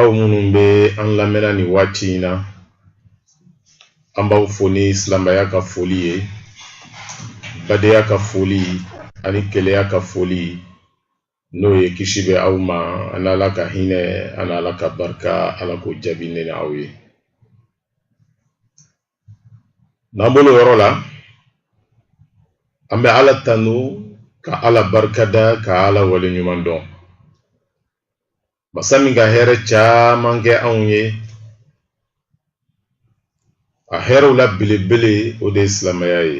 aw minnu bɛ an lamɛnna nin waati in na an b'aw fo ni silamɛya ka foli ye badenya ka foli ani kelenya ka foli n'o ye kisi bɛ aw ma an'ala ka hinɛ an'ala ka barika ala k'o jaabi ne aw ye n'an bolo yɔrɔ la an bɛ ala tanu ka ala barikada ka ala waleɲumandɔn masa min ka hɛrɛ caman kɛ anw ye a hɛrɛw la belebele o de ye silamɛya ye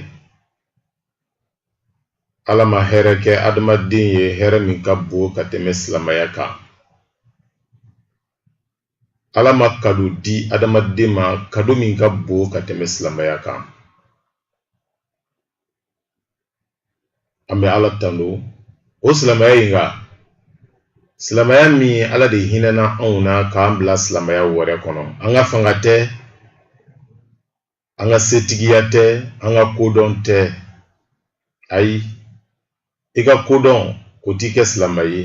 ala ma hɛrɛ kɛ adamaden ye hɛrɛ min ka bon ka tɛmɛ silamɛya kan ala ma kado di adamaden ma kado min ka bon ka tɛmɛ silamɛya kan an bɛ ala tando o silamɛya in kan silamɛya min ala de hinɛna anw na k'an bila silamɛya wɛrɛ kɔnɔ an ka fanga tɛ an ka setigiya tɛ an ka kodɔn tɛ ayi i ka kodɔn o t'i kɛ silamɛ ye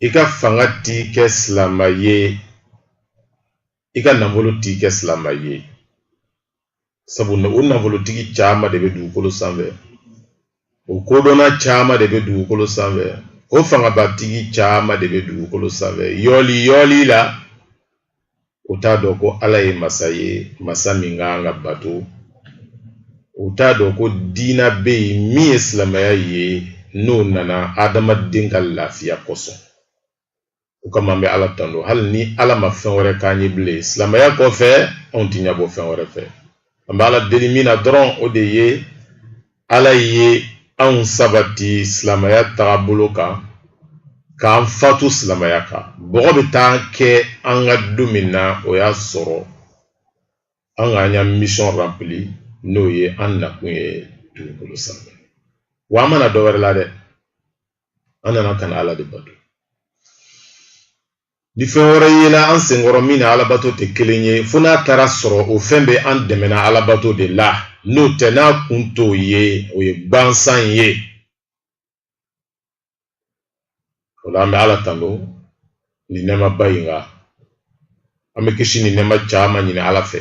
i ka fanga t'i kɛ silamɛ ye i ka nafolo t'i kɛ silamɛ ye sabu o nafolotigi caman de bɛ dugukolo sanfɛ o kodɔnna caman de bɛ dugukolo sanfɛ o fangabatigi caman de bɛ dugukolo sanfɛ yoliyoli la u t'a dɔn ko ala ye masa ye masa min ka kan ka bato u t'a dɔn ko diina bɛ yen min ye silamɛya ye n'o nana adamaden ka lafiya kosɔn o kama an bɛ ala tando hali ni ala ma fɛn wɛrɛ k'an ye bilen silamɛya kɔfɛ anw ti ɲɛbɔ fɛn wɛrɛ fɛ an bɛ ala deli min na dɔrɔn o de ye ala ye anw sabati silamɛya tagabolo kan k'an fatu silamɛya kan bɔgɔ bɛ taa kɛ an kan don min na o y'a sɔrɔ an k'an ya mission rempli n'o ye an nakun ye dugukolo sanfɛ wa an ma na dɔ wɛrɛ la dɛ an nana ka na ala de bato ni fɛn wɛrɛ yela an senkɔrɔ min n'alabato tɛ kelen ye fo n'a taara sɔrɔ o fɛn bɛ an dɛmɛna alabato de la n'o tɛ n'a kun t'o ye o ye gbansan ye o la an bɛ ala tando nin nɛɛmaba in kan an bɛ kisi ni nɛɛma caman ɲini ala fɛ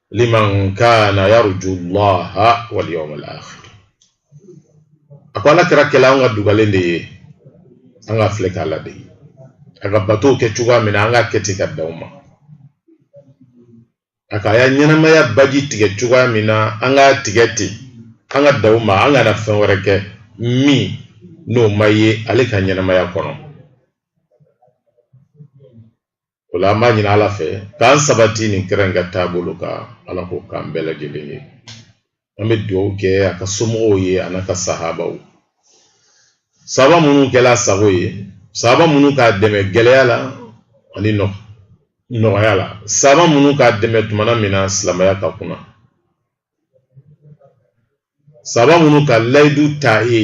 liman kana yarju llaha wal yawm al akhir a ko ala kira kɛla an ka dugalen de ye an k'a filɛ k'a ladege a ka batow kɛ cogoya min na an k'a kɛ ten ka dan o ma a k'a ya ɲɛnamaya baji tigɛ cogoya min na an k'a tigɛ ten an ka dan o ma an kana fɛn wɛrɛ kɛ min n'o ma ye ale ka ɲɛnamaya kɔnɔ o la an b'a ɲini ala fɛ k'an sabati nin kira in ka taabolo kan ala k'o k'an bɛɛ lajɛlen ye an bɛ dugawu kɛ a ka somɔgɔw ye a n'a ka sahabaw sahaba minnu kɛla a sago ye sahaba minnu k'a dɛmɛ gɛlɛya la ani nɔgɔya la sahaba minnu k'a dɛmɛ tumana min na silamɛya ka kunan sahaba minnu ka layidu ta ye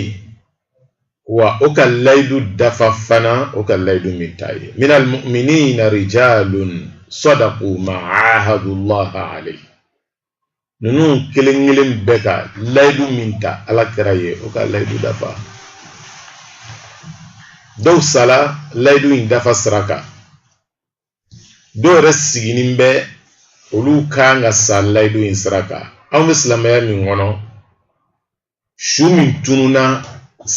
wa o ka layidu dafa fana o ka layidu min ta ye minal mu'minina rijalun sadaqu ma ahadullaha alayhi ninnu kelen kelen bɛɛ ka layidu min ta ala kira ye o ka layidu dafa dɔw sala layidu in dafa sira kan dɔw yɛrɛ sigilen bɛ olu kan ka sa layidu in sira kan anw bɛ silamɛya min kɔnɔ su min tununna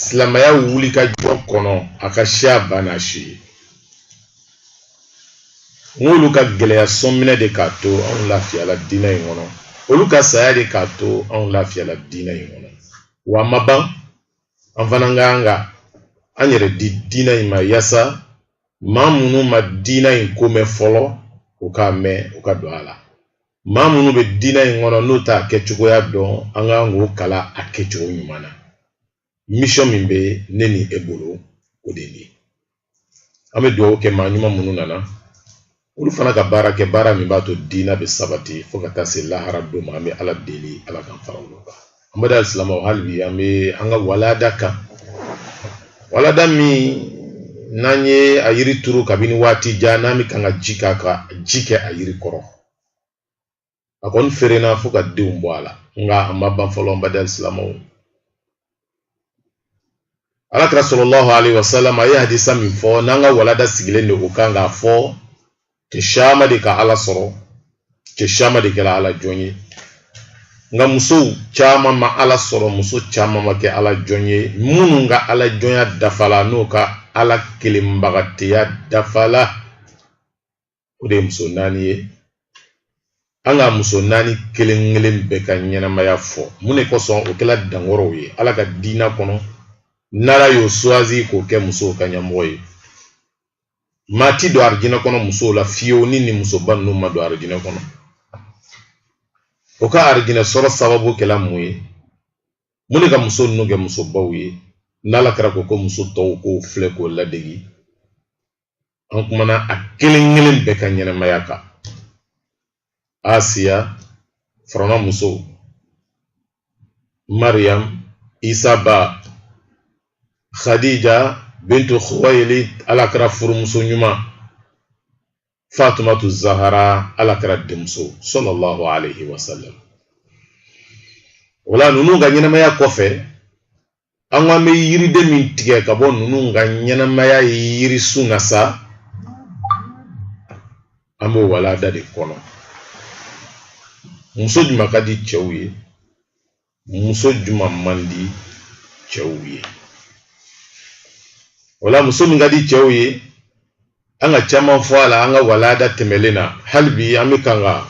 silamɛya wulikajɔ kɔnɔ a ka siya bana su ye nk'olu ka gɛlɛya sɔnminɛ de k'a to anw lafiyala diinɛ in kɔnɔ olu ka saya de k'a to anw lafiyala diinɛ in kɔnɔ wa a ma ban an fana ka kan ka an yɛrɛ di diinɛ in ma yaasa maa minnu ma diina in ko mɛn fɔlɔ u k'a mɛn u ka don a la maa minnu bɛ diina in kɔnɔ n'o t'a kɛcogoya dɔn an kan k'o kalan a kɛcogo ɲuman na mission min bɛ ne ni e bolo o de ye an bɛ dugawu kɛ maa ɲuman minnu nana olu fana ka baara kɛ baara min b'a to diina bɛ sabati fo ka taa se lahara don ma an bɛ ala deli ala k'an fara olu kan an baden silamɛw hali bi an bɛ an ka walada kan walada min n'an ye a yiri turu kabini waati jan n'an bɛ kan ka ji k'a kan ji kɛ a yiri kɔrɔ a kɔni feerenna fo ka denw bɔ a la nka an ma ban fɔlɔ n baden silamɛw ala kira sallallahu alayhi wa sallam a ye hadisa min fɔ n'an ka walada sigilen de o kan k'a fɔ cɛ caman de ka ala sɔrɔ cɛ caman de kɛra ala jɔn ye nka musow caman ma ala sɔrɔ muso caman ma kɛ ala jɔn ye minnu ka ala jɔnya dafala n'o ka ala kelenbagateya dafala o de ye muso naani ye an ka muso naani kelen kelen bɛɛ ka ɲɛnamaya fɔ mun de kosɔn o kɛla dankɔrɔw ye ala ka diina kɔnɔ n'ala y'o suwazi k'o kɛ musow ka ɲɛmɔgɔ ye maa ti don arijinɛ kɔnɔ musow la fiyewu ni nin musoba ninnu ma don arijinɛ kɔnɔ o ka arijinɛ sɔrɔ sababu kɛla mun ye mun de ka muso ninnu kɛ musobaw ye n'ala kira ko ko muso tɔw k'o filɛ k'o ladegi an kumana a kelen kelen bɛɛ ka ɲɛnamaya kan asiya firawuna muso mariam isa ba khadija bintu khuwayilid ala kira furumuso ɲuman fatumatu zahara ala kira denmuso sallallahu alaihi wasallam o la ninnu ka ɲɛnamaya kɔfɛ an ko an bɛ yiriden min tigɛ ka bɔ ninnu ka ɲɛnamaya ye yirisun na sa an b'o walada de kɔnɔ muso juma ka di cɛw ye muso juma man di cɛw ye o la muso min ka di cɛw ye an ka caman fɔ a la an ka walada tɛmɛlen na hali bi an bɛ kan ka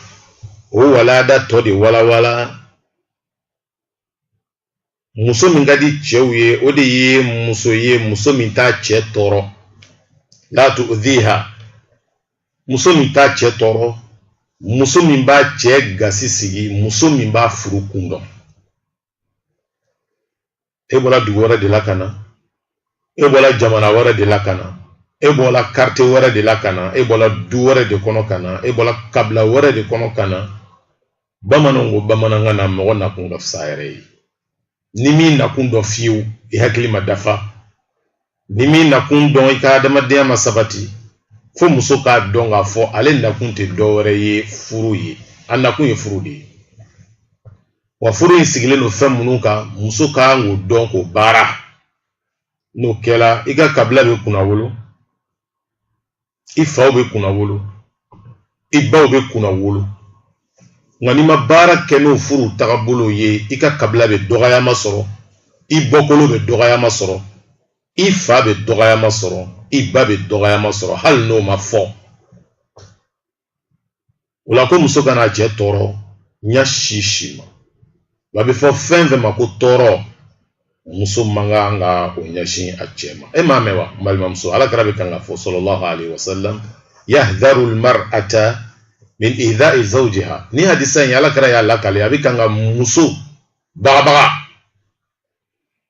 o walada tɔ de walawala muso min ka di cɛw ye o de ye muso ye muso min t'a cɛ tɔɔrɔ la tu'dhiha muso min t'a cɛ tɔɔrɔ muso min b'a cɛ gasi sigi muso min b'a furu kun dɔn e bɔla dugu wɛrɛ de la ka na e bɔla jamana wɛrɛ de la ka na e bɔla karte wɛrɛ de la ka na e bɔla du wɛrɛ de kɔnɔ ka na e bɔla kabila wɛrɛ de kɔnɔ ka na bamananw ko bamanankan na mɔgɔ nakun ka fisa i yɛrɛ ye n'i m'i nakun dɔn fiyewu i hakili ma dafa n'i m'i nakun dɔn i ka adamadenya ma sabati fo muso k'a dɔn k'a fɔ ale nakun tɛ dɔ wɛrɛ ye furu ye a nakun ye furu de ye wa furu in sigilen don fɛn minnu kan muso ka kan k'o dɔn k'o baara n'o kɛla i ka kabila bɛ kunnawolo i faw bɛ kunnawolo i baw bɛ kunnawolo nka n'i ma baara kɛ n'o furu tagabolo ye i ka kabila bɛ dɔgɔyama sɔrɔ i bɔkolo bɛ dɔgɔyama sɔrɔ i fa bɛ dɔgɔyama sɔrɔ i ba bɛ dɔgɔyama sɔrɔ hali n'o ma fɔ o la ko muso kana a cɛ tɔɔrɔ ɲa si si ma wa a bɛ fɔ fɛn fɛn ma ko tɔɔrɔ muso man kan ka o ɲɛsin a cɛ ma e m'a mɛn wa n balimamuso ala kira bɛ kan k'a fɔ sallallahu alaihi wasallam yahdharu almar'ata min idha'i zawjiha nin hadisa in ala kira y'a lakale a bɛ kan ka muso bagabaga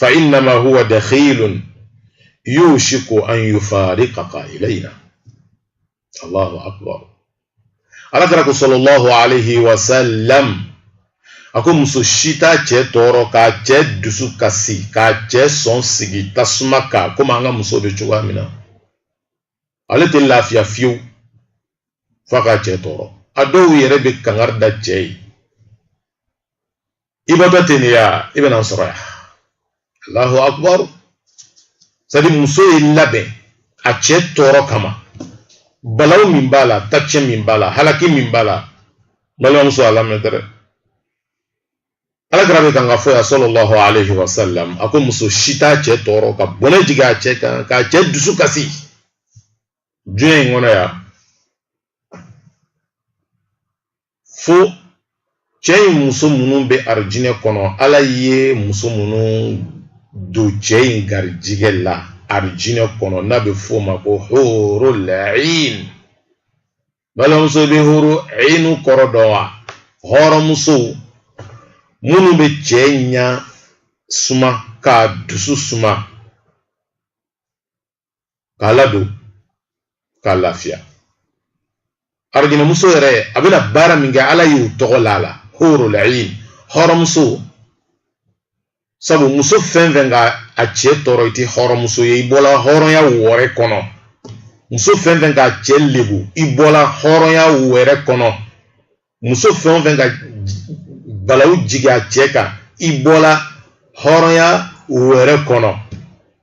fa innama huwa dakhilun yushiku an yufariqaka ilayna allahu akbar alakira ko sallallahu alayhi wa sallam a ko muso si t'a cɛ tɔɔrɔ k'a cɛ dusu kasi k'a cɛ sɔn sigi tasuma kan komi an ka muso bɛ cogoya min na ale tɛ lafiya fiyewu f'a k'a cɛ tɔɔrɔ a dɔw yɛrɛ bɛ kangari da cɛ ye i bɛ taa ten de ya i bɛna n sɔrɔ yan allahu akbar sadi muso y'i labɛn a cɛ tɔɔrɔ kama balaw min b'a la tacɛ min b'a la halaki min b'a la balimamuso a lamɛn dɛrɛ alakira bɛ kan k'a fɔ ya sallallahu alayhi wa sallam a ko muso si t'a cɛ tɔɔrɔ ka bɔnɛ jigin a cɛ kan k'a cɛ dusu kasi diɲɛ in kɔnɔ yan fo cɛ in muso minnu bɛ arijinɛ kɔnɔ ala ye muso minnu don cɛ in garijigɛ la arijinɛ kɔnɔ n'a bɛ f'o ma ko hurul ayn balimamuso bɛ huru aynu kɔrɔ dɔn wa hɔrɔnmuso minnu bɛ cɛ ɲa suma k'a dusu suma k'a ladon k'a lafiya arijinɛmuso yɛrɛ a bɛna baara min kɛ ala y'u tɔgɔ la a la hurul ayn hɔrɔnmuso sabu muso fɛn fɛn ka a cɛ tɔɔrɔ i tɛ hɔrɔnmuso ye i bɔla hɔrɔnya wɛrɛ kɔnɔ muso fɛn fɛn k'a cɛ lebu i bɔla hɔrɔnya wɛrɛ kɔnɔ muso fɛn o fɛn ka balawu jigin a cɛ kan i bɔla hɔrɔnya wɛrɛ kɔnɔ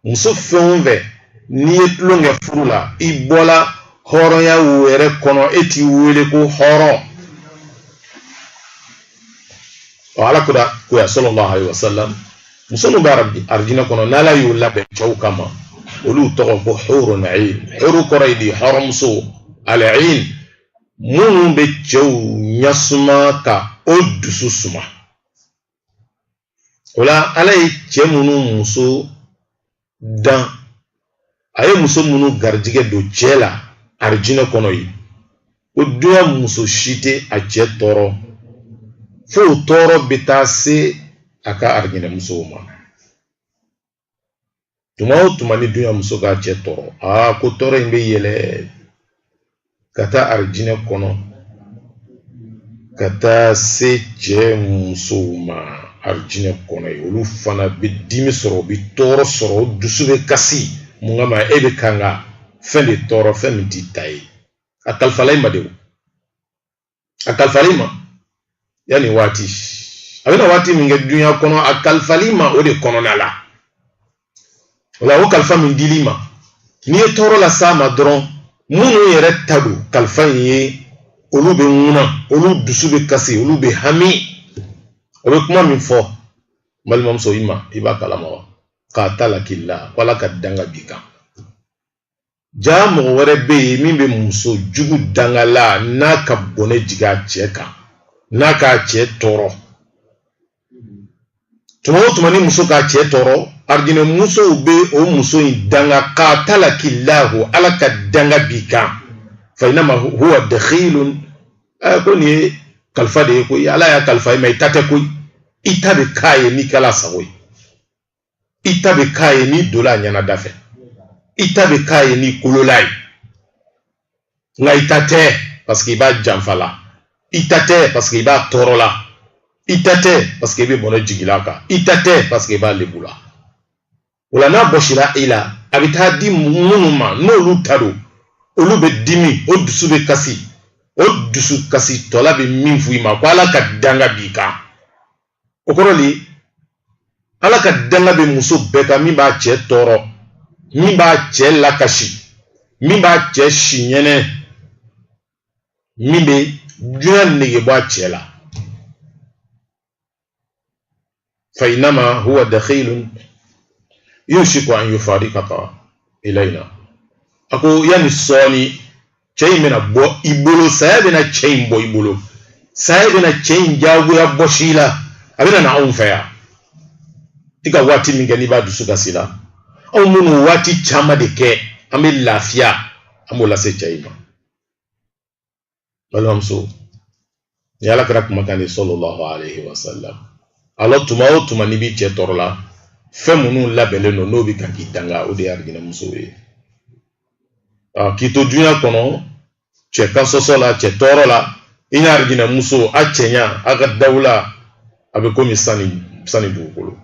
muso fɛn o fɛn n'i ye tulon kɛ furu la i bɔla hɔrɔnya wɛrɛ kɔnɔ e tɛ wele ko hɔrɔn ɔ alakira ko ya sallallahu alayhi wa sallam muso minnu bɛ arijinɛ kɔnɔ n'ala y'u labɛn cɛw kama olu tɔgɔ ko hurun ayn huru kɔrɔ ye di hɔrɔnmuso al ayn minnu bɛ cɛw ɲa suma ka o dusu suma o la ala ye cɛ minnu muso dan a ye muso minnu garijigɛ don cɛ la arijinɛ kɔnɔ yen ko dunya muso si tɛ a cɛ tɔɔrɔ fo o tɔɔrɔ bɛ taa se a ka arijinɛ musow ma tuma o tuma ni dunya muso k'a cɛ tɔɔrɔ aa ko tɔɔrɔ in bɛ yɛlɛ ka taa arijinɛ kɔnɔ ka taa se cɛ musow ma arijinɛ kɔnɔ yen olu fana bɛ dimi sɔrɔ u bɛ tɔɔrɔ sɔrɔ u dusu bɛ kasi mun kama e bɛ kan ka fɛn de tɔɔrɔ fɛn min t'i ta ye a kalifala i ma de o a kalifal'i ma yanni waati a bɛna waati min kɛ dunya kɔnɔ a kalifal'i ma o de kɔnɔna la wala o kalifa min dil'i ma n'i ye tɔɔrɔ las'a ma dɔrɔn minnu yɛrɛ ta don kalifa in ye olu bɛ ŋuna olu dusu bɛ kasi olu bɛ hami o bɛ kuma min fɔ balimamuso i ma i b'a kalama wa katalaki lahu ala ka danga b'i kan jaa mɔgɔ wɛrɛ bɛ yen min bɛ muso jugu dangala n'a ka bɔnɛ jigin a cɛ kan n'a k'a cɛ tɔɔrɔ tuma o tuma ni muso k'a cɛ tɔɔrɔ arijinɛ musow bɛ o muso in danga katalaki lahu ala ka danga b'i kan fa inama huwa dakhilun ɛɛ ko nin ye kalifa de ye koyi ala y'a kalifa i ma i ta tɛ koyi i ta bɛ k'a ye n'i kɛla a sago ye. i ta bɛ k'a ye n'i donna a ɲɛna da fɛ i ta bɛ k'a ye n'i kolol'a ye nka i ta tɛ paseke i b'a janfa la i ta tɛ paseke i b'a tɔɔrɔ la i ta tɛ paseke i bɛ bɔnɛ jigil'a kan i ta tɛ paseke i b'a lebu la wala n'a bɔsira i la a bɛ taa di minnu ma n'olu ta don olu bɛ dimi o dusu bɛ kasi o dusu kasitɔla bɛ min f'i ma ko ala ka danga b'i kan o kɔrɔ de ala ka danga bɛ muso bɛɛ kan min b'a cɛ tɔɔrɔ min b'a cɛ lakasi min b'a cɛ si ɲɛnɛ min bɛ duɲa nege bɔ a cɛ la fa inama huwa dakhilun yushiku an yufarikaka ilayna a ko yanni sɔɔni cɛ in bɛna bɔ i bolo saya bɛna cɛ in bɔ i bolo saya bɛna cɛ in jagoya bɔs'i la a bɛna na anw fɛ yan i ka waati min kɛ n'i b'a dusu kasi la anw minnu waati caman de kɛ an bɛ lafiya an b'o lase cɛ in ma balimamuso nin ala kira kumakan de sallallahu alaihi wasallam ala tuma o tuma n'i b'i cɛ tɔɔrɔ la fɛn minnu labɛnlen don n'o bɛ ka k'i danga o de ye arijinɛmusow ye k'i to dunya kɔnɔ cɛ ka sɔsɔ la cɛ tɔɔrɔ la i n'a arijinɛmuso a cɛɲa a ka dawula a bɛ komi san ni dugukolo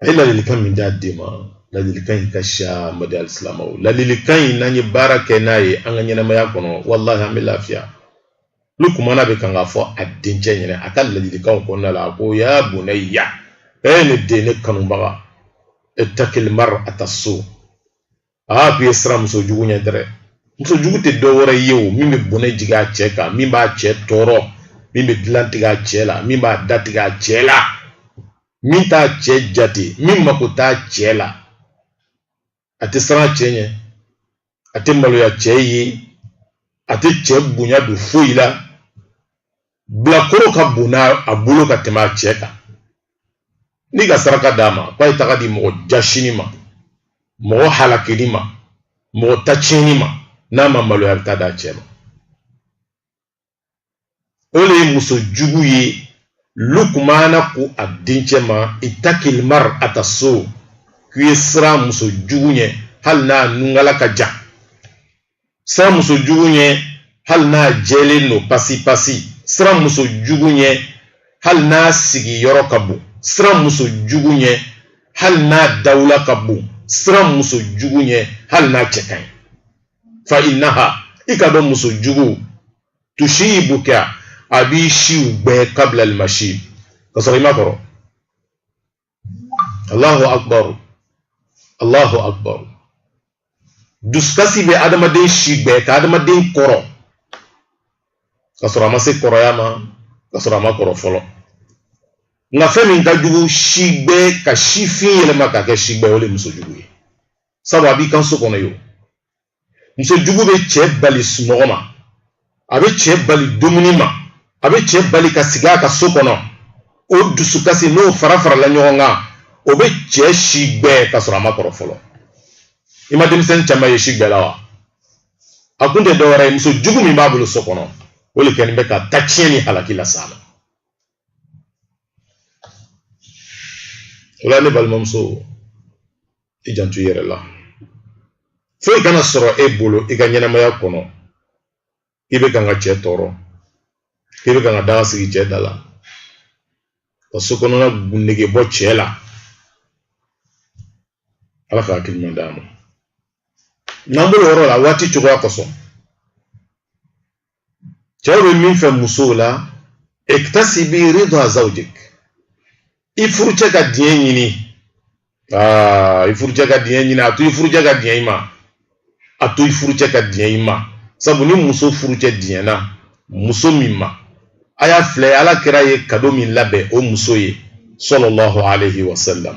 a ye ladilikan min d'a den ma ladilikan in ka siya n baden alisilamɛw ladilikan in n'an ye baara kɛ n'a ye an ka ɲɛnɛmaya kɔnɔ walahi an bɛ lafiya lukumana a bɛ kan k'a fɔ a dencɛ ɲɛna a ka ladilikanw kɔnɔna la a ko ya bunaya e ne den ne kanubaga itakili marata su aa k'i ye siran muso jugu ɲɛ dɛrɛ muso jugu tɛ dɔ wɛrɛ ye o min bɛ bɔnɛ jigin a cɛ kan min b'a cɛ tɔɔrɔ min bɛ dilan tigɛ a cɛ la min b'a da tigɛ a cɛ la min t'a cɛ jate min mako t'a cɛ la a tɛ siran a cɛ ɲɛ a tɛ maloya cɛ ye a tɛ cɛ bonya don foyi la bilakoro ka bon a bolo ka tɛmɛ a cɛ kan n'i ka saraka d'a ma k'a ye taga di mɔgɔ jaasinin ma mɔgɔ halakinin ma mɔgɔ ta tiɲɛnin ma n'a ma maloya a bɛ taa d'a cɛ ma o de ye muso jugu ye lukumana ko a dencɛ ma itakil marata so k'i ye siran muso jugu ɲɛ hali n'a nunkala ka jan siran muso jugu ɲɛ hali n'a jɛlen don pasi pasi siran muso jugu ɲɛ hali n'a sigiyɔrɔ ka bon siran muso jugu ɲɛ hali n'a dawula ka bon siran muso jugu ɲɛ hali n'a cɛ ka ɲi fa innaha i k'a dɔn muso jugu tusiibuka a b'i siw gbɛ kabla almasiib ka sɔrɔ i ma kɔrɔ Allahu akbar Allahu akbar dusukasi bɛ adamaden si gbɛ ka adamaden kɔrɔ ka sɔrɔ a ma se kɔrɔya ma ka sɔrɔ a ma kɔrɔ fɔlɔ nka fɛn min ka jugu si gbɛ ka si fin yɛlɛma k'a kɛ si gbɛ o de muso jugu ye sabu a b'i kan so kɔnɔ yo muso jugu bɛ cɛ bali sunɔgɔ ma a bɛ cɛ bali dumuni ma a bɛ cɛ bali ka sigi a ka so kɔnɔ o dusukasi n'o farafarala ɲɔgɔn kan o bɛ cɛ si gbɛ ka sɔrɔ a ma kɔrɔ fɔlɔ i ma denmisɛnnin caman ye si gbɛ la wa a kun tɛ dɔwɛrɛ ye muso jugu min b'a bolo so kɔnɔ o de kɛlen bɛ ka ta tiɲɛ ni halaki lase a ma o la ne balimamuso i janto i yɛrɛ la foyi kana sɔrɔ e bolo i ka ɲɛnamaya kɔnɔ i bɛ kan ka cɛ tɔɔrɔ i bɛ kan ka daga sigi cɛ da la ka so kɔnɔna ko nege bɔ cɛ la ala ka hakili ɲuman d'an ma n'an bɔla o yɔrɔ la waati cogoya kosɔn cɛw bɛ min fɛ musow la iktasibi ridwa zawjik i furucɛ ka diɲɛ ɲini aa i furucɛ ka diɲɛ ɲini a to i furucɛ ka diɲɛ i ma a to i furucɛ ka diɲɛ i ma sabu ni muso furucɛ diɲɛna muso min ma a y'a filɛ ala kira ye kado min labɛn o muso ye sallallahu alayhi wa sallam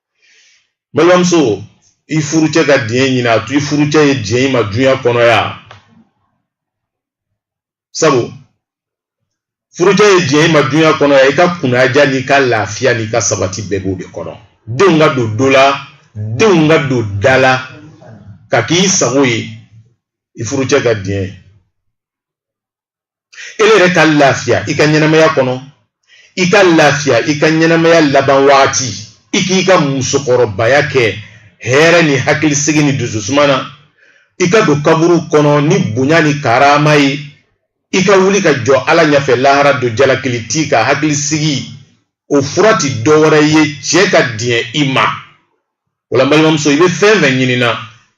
balimamuso i furucɛ ka diɲɛ ɲini a to i furucɛ ye diɲɛ i ma dunya kɔnɔ yan sabu furucɛ ye diɲɛ i ma dunya kɔnɔ yan i ka kunnandiya n'i ka lafiya n'i ka sabati bɛɛ b'o de kɔnɔ denw ka don do la denw ka don da la ka k'i sago ye i furucɛ ka diɲɛ ye ele yɛrɛ ka lafiya i ka ɲɛnamaya kɔnɔ i ka lafiya i ka ɲɛnamaya laban waati i k'i ka musokɔrɔbaya kɛ hɛrɛ ni hakilisigi ni dususuma na i ka don kaburu kɔnɔ ni bonya ni karama ye i ka wuli ka jɔ ala ɲɛfɛ lahara don jalakili t'i kan hakilisigi o fura ti dɔ wɛrɛ ye cɛ ka diɲɛ i ma o la n balimamuso i bɛ fɛn fɛn ɲinina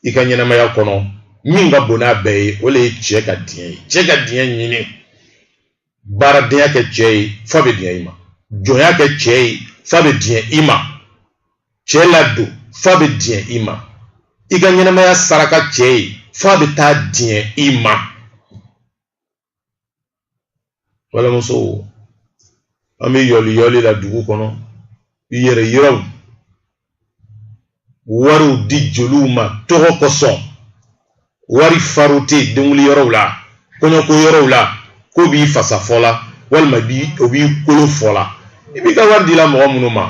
i ka ɲɛnamaya kɔnɔ min ka bon n'a bɛɛ ye o le ye cɛ ka diɲɛ ye cɛ ka diɲɛ ɲini baaradenya kɛ cɛ ye f'a bɛ diɲɛ i ma jɔnya kɛ cɛ ye f'a bɛ diɲɛ i ma cɛ ladon f'a bɛ diɲɛ i ma i ka ɲɛnamaya saraka cɛ ye f'a bɛ taa diɲɛ i ma. balimamusow an bɛ yɔliyɔli la dugu kɔnɔ i yɛrɛ yiraw wariw di jeliw ma tɔgɔ kosɔn wari farote denkunli yɔrɔw la kɔɲɔko yɔrɔw la k'o b'i fasa fɔla walima bi o b'i kolo fɔla i b'i ka wari dila mɔgɔ minnu ma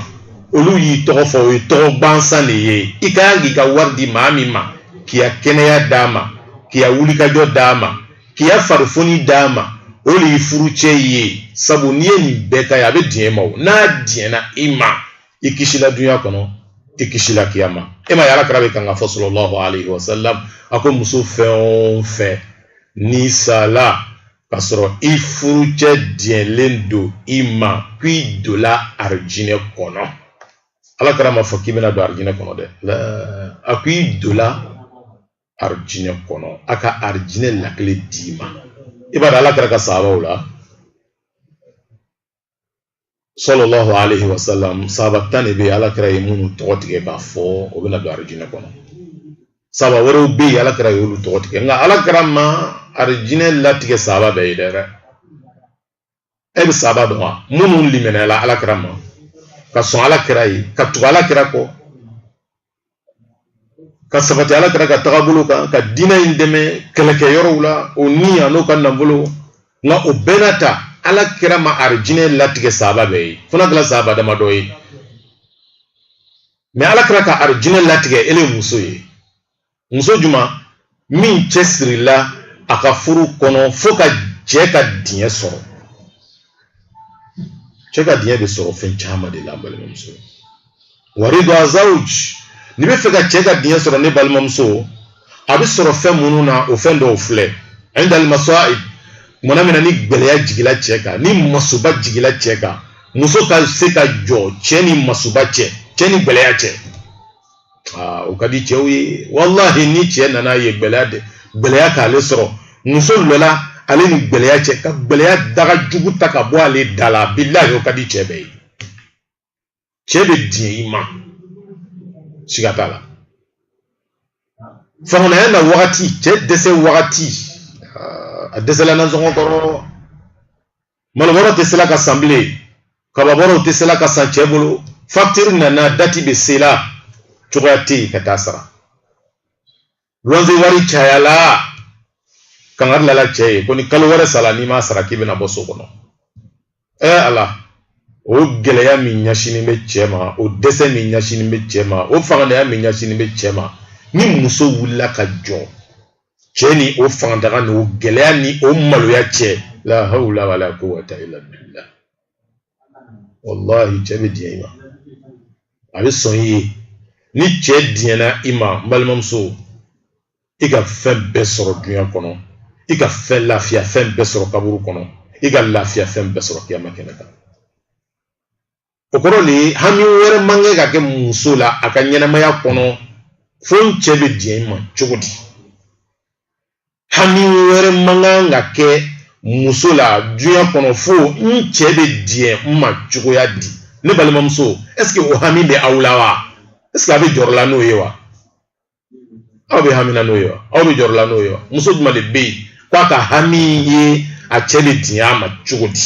olu y'i tɔgɔ fɔ o ye tɔgɔ gansan de ye i ka kan k'i ka wari di maa min ma k'i ka kɛnɛya d'a ma k'i ka wulikajɔ d'a ma k'i ka farifoni d'a ma o le y'i furucɛ ye sabu n'i ye nin bɛɛ k'a ye a bɛ diɲɛ i ma o n'a diɲɛna i ma i kisila dunya kɔnɔ i kisila kiyama e m'a ye ala kira bɛ kan ka fɔ sallallahu alayhi wa sallam a ko muso fɛn o fɛn n'i sala k'a sɔrɔ i furucɛ diɲɛlen don i ma ko i donla arijinɛ kɔnɔ ala kira m'a fɔ k'i bɛna don arijinɛ kɔnɔ dɛ a ko i donla arijinɛ kɔnɔ a ka arijinɛ lakile d'i ma i b'a dɔn ala kira ka sahabaw la sallallahu alayhi wa sallam sahaba tan de bɛ yen ala kira ye minnu tɔgɔ tigɛ k'a fɔ o bɛna don arijinɛ kɔnɔ sahaba wɛrɛw bɛ yen ala kira y'olu tɔgɔ tigɛ nka ala kira ma arijinɛ latigɛ sahaba bɛɛ ye dɛrɛ e bɛ sahaba dɔn wa minnu limaniyala ala kira ma ka sɔn ala kira ye ka tugu ala kira kɔ ka sabati ala kira ka tagabolo kan ka diinɛ in dɛmɛ kɛlɛkɛ yɔrɔw la o ni an'o ka nafolo nka o bɛɛ n'a ta ala kira ma arijinɛ latigɛ sahaba bɛɛ ye fo n'a kɛla sahaba damadɔ ye mɛ ala kira ka arijinɛ latigɛ ele muso ye muso juma min cɛsirila a ka furu kɔnɔ fo ka cɛ ka diɲɛ sɔrɔ cɛ ka diɲɛ bɛ sɔrɔ fɛn caman de la n balimamuso waridu azawuj n'i bɛ fɛ ka cɛ ka diɲɛ sɔrɔ ne balimamuso a bɛ sɔrɔ fɛn minnu na o fɛn dɔw filɛ inda al masaib tumana min na ni gɛlɛya jigila cɛ kan ni masuba jigila cɛ kan muso ka se ka jɔ cɛ ni masuba cɛ cɛ ni gɛlɛya cɛ aa o ka di cɛw ye walahi ni cɛ nana ye gɛlɛya k'ale sɔrɔ muso lɔla ale ni gɛlɛya cɛ ka gɛlɛya daga jugu ta ka bɔ ale da la bilahi o ka di cɛ bɛɛ ye cɛ bɛ diɲɛ i ma siga t'a la faantanya na wagati cɛ dɛsɛ wagati a dɛsɛla nasɔngɔ kɔrɔ malobɔrɔ tɛ sela ka san bilen kababɔrɔw tɛ sela ka san cɛ bolo facture nana dati bɛ sela cogoya tɛ yen ka taa a sara luwanze wari cayala kangari lala cɛ ye ko ni kalo wɛrɛ sala n'i m'a sara k'i bɛna bɔ so kɔnɔ ɛ ala o gɛlɛya min ɲɛsinnen bɛ cɛ ma o dɛsɛ min ɲɛsinnen bɛ cɛ ma o fangantanya min ɲɛsinnen bɛ cɛ ma ni muso wulila ka jɔ cɛ ni o fangadaga ni o gɛlɛya ni o maloya cɛ la hawla wala quwwata illa billah wallahi cɛ bɛ diɲɛ i ma a bɛ sɔn i ye ni cɛ diɲɛna i ma n balimamuso i ka fɛn bɛɛ sɔrɔ dunya kɔnɔ i ka fɛn lafiya fɛn bɛɛ sɔrɔ kaburu kɔnɔ i ka lafiya fɛn bɛɛ sɔrɔ kiyama kɛnɛ kan o kɔrɔ de ye hami wɛrɛ man kan ka kɛ muso la a ka ɲɛnɛmaya kɔnɔ fo n cɛ bɛ diɲɛ n ma cogo di hami wɛrɛ man kan ka kɛ muso la duɲa kɔnɔ fo n cɛ bɛ diɲɛ n ma cogoya di ne balimamuso est-ce que o hami bɛ aw la wa est-ce que aw bɛ jɔrɔla n'o ye wa aw bɛ hamina n'o ye wa aw bɛ jɔrɔla n'o ye wa muso jumɛn de bɛ yen k'a ka hami ye a cɛ bɛ diɲɛ a ma cogo di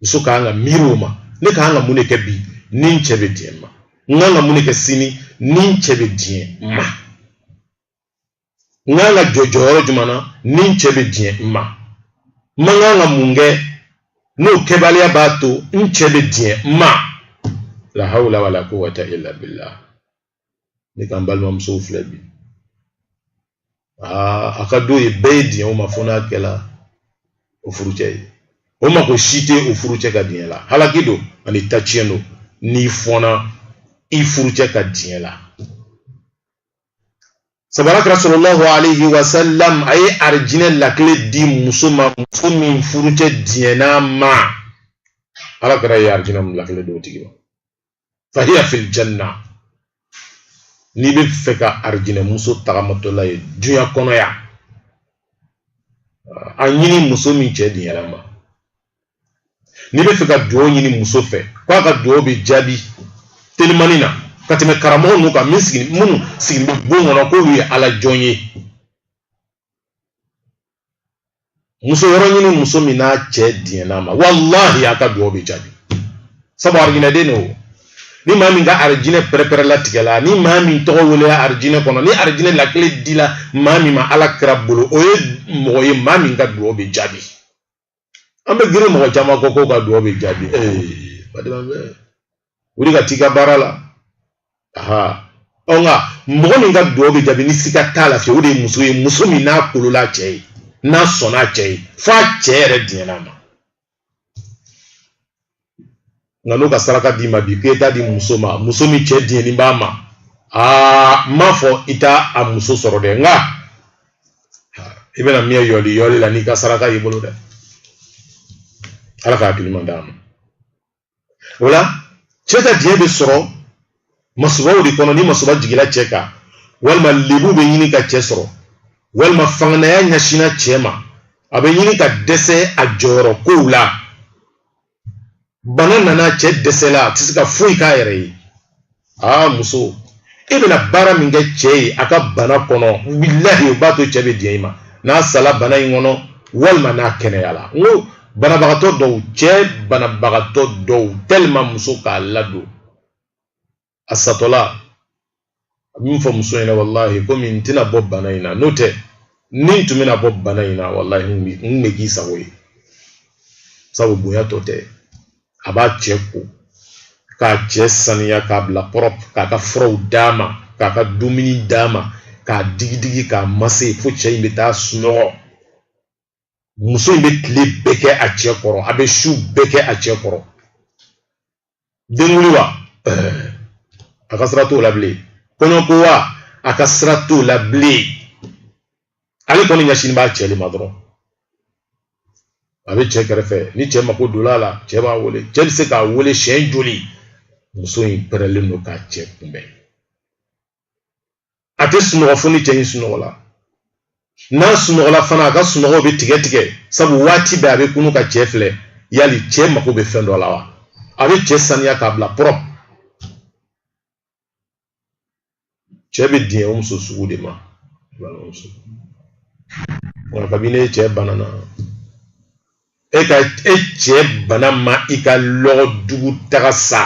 muso ka kan ka miiri o ma ne ka kan ka mun de kɛ bi ni n cɛ bɛ diɲɛ n ma n ka kan ka mun de kɛ sini ni n cɛ bɛ diɲɛ n ma n ka kan ka jɔ jɔyɔrɔ jumɛn na ni n cɛ bɛ diɲɛ n ma n man kan ka mun kɛ n'o kɛbaliya b'a to n cɛ bɛ diɲɛ n ma la hawla wala quwwata illa billah nka n balimamusow filɛ bi aa a ka d'o ye bɛɛ ye diɲɛ o ma fo n'a kɛla o furucɛ ye o mako si tɛ o furucɛ ka diɲɛ la halaki don ani taciyɛn don n'i fɔnna i furucɛ ka diɲɛ la sabu ala kira sallallahu alayhi wa sallam a ye arijinɛ lakile di muso ma muso min furucɛ diɲɛna a ma ala kira ye arijinɛ lakile di o tigi ma fahiya fil janna n'i bɛ fɛ ka arijinɛ muso tagamatɔla ye duɲa kɔnɔ yan a ɲini muso min cɛ diɲɛna ma n'i bɛ fɛ ka dugawu ɲini muso fɛ k'a ka dugawu bɛ jaabi telimani na ka tɛmɛ karamɔgɔ ninnu kan min sigi minnu sigilen bɛ bon kɔnɔ k'olu ye ala jɔn ye muso yɔrɔ ɲini muso min n'a cɛ diɲɛna ma walahi a ka dugawu bɛ jaabi sabu arijinɛden don ni maa min ka arijinɛ pɛrɛpɛrɛ latigɛla ni maa min tɔgɔ welela arijinɛ kɔnɔ ni arijinɛ lakile dila maa min ma ala kira bolo o ye mɔgɔ ye maa min ka dugawu bɛ jaabi an bɛ girin mɔgɔ caman kɔ k'u ka dugawu bɛ jaabi ee badenma bɛ wuli ka t'i ka baara la aha ɔ nka mɔgɔ min ka dugawu bɛ jaabi ni siga t'a la fiyewu o de ye muso ye muso min n'a kolola cɛ ye n'a sɔnna cɛ ye f'a cɛ yɛrɛ diɲɛna ma nka n'o ka saraka d'i ma bi k'e t'a di muso ma muso min cɛ diɲɛni b'a ma aa n m'a fɔ i t'a a muso sɔrɔ dɛ nka i bɛna mɛɛn yɔli yɔli la n'i ka saraka y'i bolo dɛ ala ka hakiliman d'an ma o la cɛ ka diɲɛ bɛ sɔrɔ masubaw de kɔnɔ ni masuba jigila cɛ kan walima lebu bɛ ɲini ka cɛ sɔrɔ walima fangantanya ɲɛsinna cɛ ma a bɛ ɲini ka dɛsɛ a jɔyɔrɔ kow la bana nana cɛ dɛsɛla a tɛ se ka foyi k'a yɛrɛ ye aa muso e bɛna baara min kɛ cɛ ye a ka bana kɔnɔ bilahi o b'a to cɛ bɛ diɲɛ i ma n'a sala bana in kɔnɔ walima n'a kɛnɛyala n ko banabagatɔ dɔw cɛ banabagatɔ dɔw tellement muso k'a ladon a satɔla a bɛ min fɔ muso ɲɛna walahi komi n tɛna bɔ bana in na n'o tɛ ni n tun bɛna bɔ bana in na walahi n tun bɛ k'i sago ye sabu bonya tɔ tɛ a b'a cɛ ko k'a cɛ saniya k'a bila propre k'a ka furaw d'a ma k'a ka dumuni d'a ma k'a digidigi k'a mase fo cɛ in bɛ taa sunɔgɔ muso in bɛ tile bɛɛ kɛ a cɛ kɔrɔ a bɛ su bɛɛ kɛ a cɛ kɔrɔ denkundi wa a ka sira t'o la bilen kɔɲɔko wa a ka sira t'o la bilen ale kɔni ɲɛsinnen b'a cɛ de ma dɔrɔn a bɛ cɛ kɛrɛfɛ ni cɛ mako donn'a la cɛ b'a wele cɛ bɛ se k'a wele siɲɛ joli muso in pɛrɛlen don k'a cɛ kunbɛn a tɛ sunɔgɔ fo ni cɛ in sunɔgɔla n'a sunɔgɔla fana a ka sunɔgɔw bɛ tigɛ tigɛ sabu waati bɛɛ a bɛ kunu ka cɛ filɛ yali cɛ mako bɛ fɛn dɔ la wa a bɛ cɛ saniya k'a bila propre cɛ bɛ diɲɛ o muso sugu de ma balimamuso nka kabini e cɛ banana e ka e cɛ bana ma i ka lɔgɔ dugu taga sa.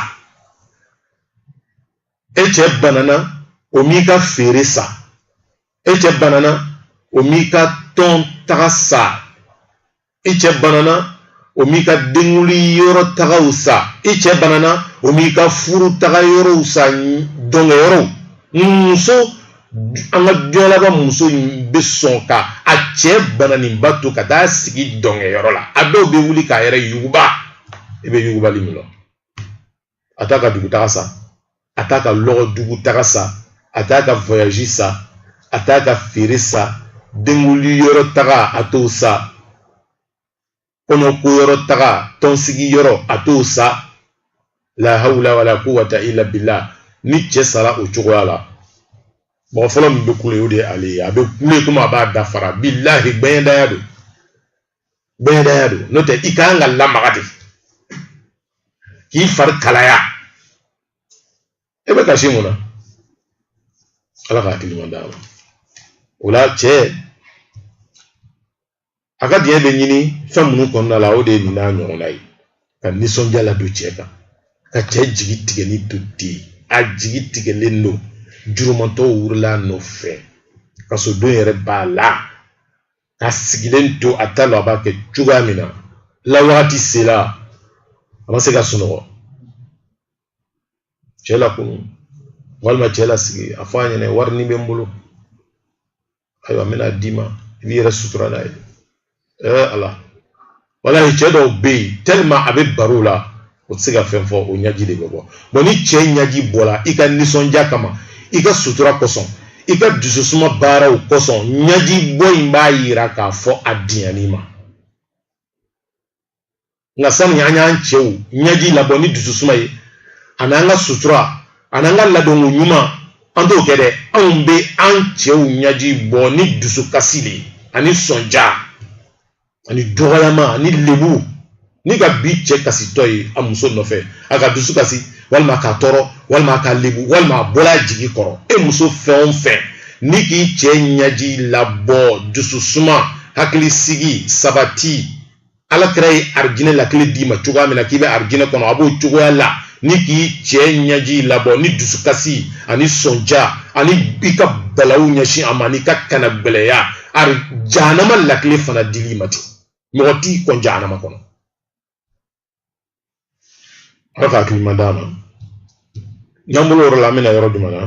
e cɛ banana o m'i ka feere sa e cɛ banana o m'i ka tɔn taga sa i cɛ banana o m'i ka denguli yɔrɔ tagaw sa i cɛ banana o m'i ka furu taga yɔrɔw sa dɔnkɛ yɔrɔw muso an ka jɔlaba muso in bɛ sɔn ka a cɛ bananinba to ka taa sigi dɔnkɛ yɔrɔ la a dɔw bɛ wuli k'a yɛrɛ yuguba i bɛ yugubali min dɔn a t'a ka dugutaga sa a t'a ka lɔgɔ dugutaga sa a t'a ka voyage sa a t'a ka feere sa denguli yɔrɔ taga a t'o sa kɔɲɔko yɔrɔ taga tɔnsigi yɔrɔ a t'o sa la hawla wala quwwata illa billah ni cɛ sara o cogoya la mɔgɔ fɔlɔ min bɛ kule o de ye ale ye a bɛ kule komi a b'a da fara bilahi gbɛɲɛdaya don bɛɛdaya don n'o tɛ i ka kan ka lamaga de k'i fari kalaya e bɛ kasi mun na ala ka hakili ɲuman d'a ma o la cɛ a ka diɲɛ bɛ ɲini fɛn minnu kɔnɔna la o de ye nin n'a ɲɔgɔnna ye ka nisɔndiya ladon cɛ kan ka cɛ jigi tigɛlen to ten a jigi tigɛlen don jurumantɔw wurila a nɔfɛ kasodon yɛrɛ b'a la k'a sigilen to a t'a dɔn a b'a kɛ cogoya min na lawagati sela a ma se ka sunɔgɔ cɛ lakunu walima cɛ lasigi a fɔ a ɲɛna warinin bɛ n bolo ayiwa n bɛna d'i ma i b'i yɛrɛ sutura n'a ye ɛɛ ala walayi cɛ dɔw bɛ yen tellement a bɛ bala o la o tɛ se ka fɛn fɔ o ɲɛji de bɛ ka bɔn ni cɛ ɲɛji bɔra i ka nisɔndiya kama i ka sutura kosɔn i ka dususuma baaraw kosɔn ɲɛji bɔ in b'a yira k'a fɔ a diɲɛn'i ma nka sani an y'an cɛw ɲɛji labɔ ni dususuma ye ani an ka sutura ani an ka ladonko ɲuman an t'o kɛ dɛ anw bɛ an cɛw ɲɛji bɔ ni dusukasi de ye ani sɔnja ani dɔgɔyama ani lebu n'i ka bi cɛ kasitɔ ye a muso nɔfɛ a k'a dusu kasi walima k'a tɔɔrɔ walima k'a lebu walima a bɔra a jigi kɔrɔ e muso fɛn o fɛn n'i k'i cɛ ɲɛji labɔ dususuma hakili sigi sabati ala kira ye arijinɛ lakile d'i ma cogoya min na k'i bɛ arijinɛ kɔnɔ a b'o cogoya la n'i k'i cɛ ɲɛji labɔ ni dusukasi ani sɔnja ani i ka balaw ɲɛsin a ma ani ka kanagbɛlɛya ari jahanama lakile fana d'ile ma ten mɔgɔ t'i kɔn jahanama kɔnɔ ala ka hakili ɲuman d'an ma n'an bɔl'o yɔrɔ la an bɛna yɔrɔ jumɛn na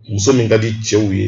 muso min ka di cɛw ye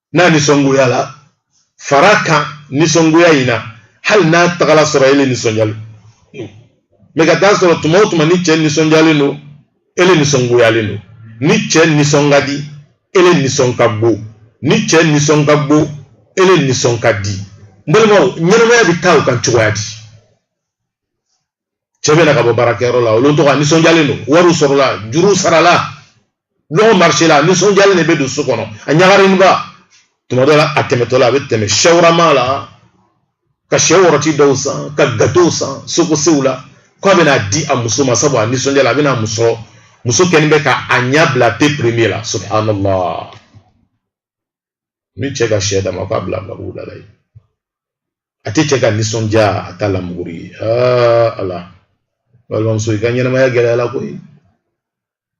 n'a nisɔngoyala fara a kan nisɔngoya in na hali n'a tagala sɔrɔ e le nisɔndiyalen don mais ka taa sɔrɔ tuma o tuma ni cɛ nisɔndiyalen don e le nisɔngoyalen don ni cɛ nisɔn ka di e le nisɔn ka go ni cɛ nisɔn ka go e le nisɔn ka di n balimaw ɲɛnamaya bɛ taa o kan cogoya di cɛ bɛ na ka bɔ baarakɛyɔrɔ la o lon dɔ a nisɔndiyalen don wariw sɔrɔla juruw sarala lɔgɔ marché la a nisɔndiyalen de bɛ don so kɔnɔ a ɲagarinba tuma dɔ la a tɛmɛtɔ la a bɛ tɛmɛ chawarma la ka sɛ rɔti dɔw san ka gatow san sokosew la ko a bɛna di a muso ma sabu a nisɔndiyala a bɛ na muso muso kɛlen bɛ ka a ɲɛ bila pe premier la subhanallah ni cɛ ka sɛ d'a ma k'a bila gabugu da la yen a tɛ cɛ ka nisɔndiya a t'a lamuguri ye aa ala balimamuso i ka ɲɛnamaya gɛlɛyala koyi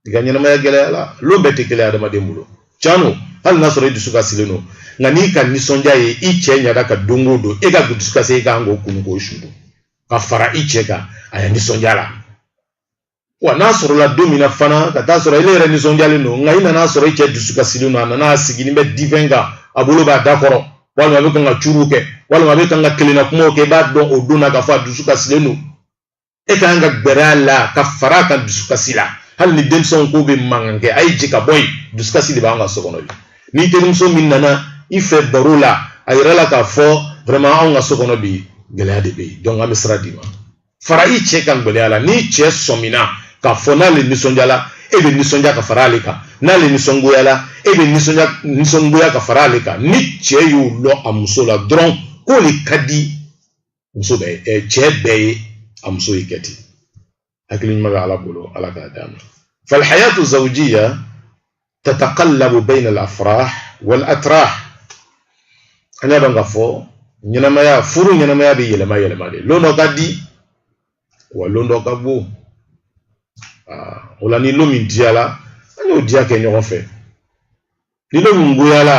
i ka ɲɛnamaya gɛlɛyala lon bɛɛ tɛ kelen adamaden bolo can don hali n'a sɔrɔ i dusukasilen don nka n'i ka nisɔndiya ye i cɛ ɲada kan don o don e ka dusukasi i kan k'o kunu k'o su don ka fara i cɛ kan a ya nisɔndiya la wa n'a sɔrɔla don min na fana ka taa sɔrɔ e yɛrɛ nisɔndiyalen don nka i nana sɔrɔ i cɛ dusukasilen don a nana a sigilen bɛ divan kan a bolo b'a da kɔrɔ walima a bɛ kan ka curuw kɛ walima a bɛ kan ka kelenna kumaw kɛ i b'a dɔn o don na k'a fɔ a dusukasilen don e ka kan ka gbɛrɛ a la ka fara a kan dusukasi la hali ni denmisɛnw k'u bɛ mankan kɛ a ye jɛ ka bɔ yen dusukasi de b'an ka so kɔnɔ bi ni terimuso min nana i fɛ baro la a yir'a la k'a fɔ vraiment anw ka so kɔnɔ bi gɛlɛya de bɛ yen donc an bɛ sira d'i ma fara i cɛ kan gbɛlɛya la n'i cɛ sɔmina k'a fɔ n'ale nisɔndiyala e bɛ nisɔndiya ka fara ale kan n'ale nisɔngoyala e bɛ nisɔngoya ka fara ale kan ni cɛ y'o lɔn a muso la dɔrɔn k'o le ka di muso bɛɛ ɛ cɛ bɛɛ ye a muso ye kɛ ten hakili ɲuman bɛ ala bolo ala k'a d'an ma falhayatu zawjiya tataqallabu bayna al-afrah wal atrah an b'a dɔn k'a fɔ ɲɛnamaya furu ɲɛnamaya bɛ yɛlɛma yɛlɛma de lon dɔ ka di wa lon dɔ ka go o la ni lon min diyala an y'o diya kɛ ɲɔgɔn fɛ ni lon min goyala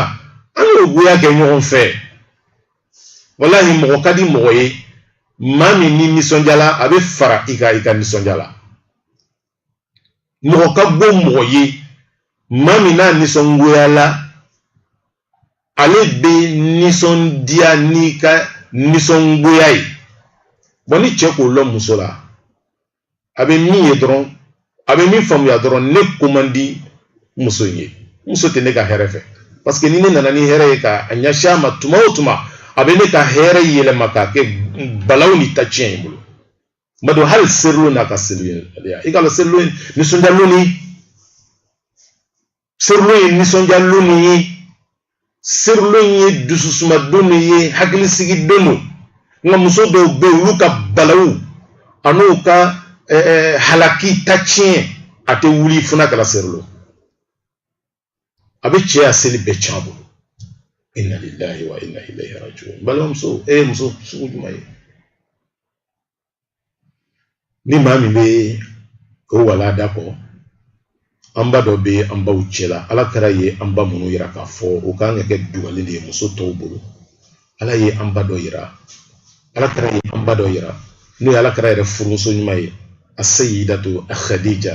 an y'o goya kɛ ɲɔgɔn fɛ walahi mɔgɔ ka di mɔgɔ ye maa min n'i nisɔndiyala a bɛ fara i kan i ka nisɔndiya la mɔgɔ ka gbo mɔgɔ ye maa min n'a nisɔngoyala ale bɛ nisɔndiya n'i ka nisɔngoya ye bɔn ni cɛ k'o lɔn muso la a bɛ min ye dɔrɔn a bɛ min faamuya dɔrɔn ne ko man di muso in ye muso tɛ ne ka hɛrɛ fɛ parce que ni ne nana ni hɛrɛ ye ka a ɲɛsin a ma tuma o tuma a bɛ ne ka hɛrɛ yɛlɛma k'a kɛ balaw ni ta tiɲɛ ye bolo n b'a dɔn hali seli lon n'a ka seli ya i k'a dɔn seli lon ye nisɔndiya lon de seli lon ye nisɔndiya lon de ye seli lon ye dususuma don de ye hakilisigi don don nka muso dɔw bɛ yen olu ka balawu an'u ka halaki ta tiɲɛ a tɛ wuli fo n'a kɛra seli lon a bɛ cɛ ka seli bɛɛ tiɲɛ a bolo inna lillahi wa inna ilayhi raji'un balimamuso e ye muso sugu jumɛn ye ni maa min bɛ o walanda kɔ an ba dɔ bɛ an baw cɛla ala kira ye an ba minnu yira k'a fɔ o kan ka kɛ dugalen de ye muso tɔw bolo ala ye an ba dɔ yira ala kira ye an ba dɔ yira n'o ye ala kira yɛrɛ furumuso ɲuman ye as-sayyidatu khadija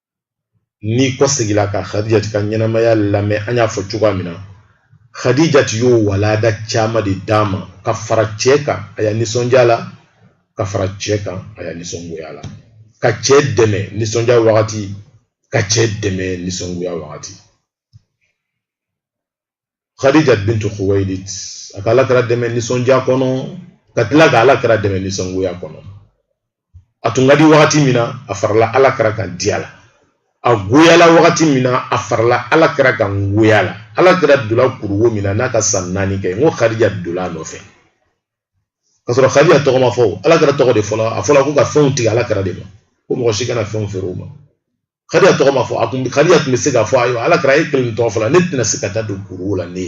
n'i kɔsegila ka hadijati ka ɲɛnamaya lamɛn an y'a fɔ cogoya min na hadijati y'o walanda caman de d'an ma ka fara cɛ kan a ya nisɔndiya la ka fara cɛ kan a ya nisɔngoya la ka cɛ dɛmɛ nisɔndiya wagati ka cɛ dɛmɛ nisɔngoya wagati khadija bintu khuwailid a ka ala kira dɛmɛ nisɔndiya kɔnɔ ka tila ka ala kira dɛmɛ nisɔngoya kɔnɔ a tun ka di wagati min na a farala ala kira kan diya la a goyala wagati min na a farala ala kira kan goya la ala kira donna kuruwo min na n'a ka san naani kɛ n ko khadija donna a nɔfɛ ka sɔrɔ khadija tɔgɔ ma fɔ ala kira tɔgɔ de fɔla a fɔla ko ka fɛnw tigɛ ala kira de ma ko mɔgɔ si kana fɛnw feere o ma khadija tɔgɔ ma fɔ a tun khadija tun bɛ se k'a fɔ ayiwa ala kira e kelen tɔgɔ fɔla ne tɛna se ka taa don kuruwo la ne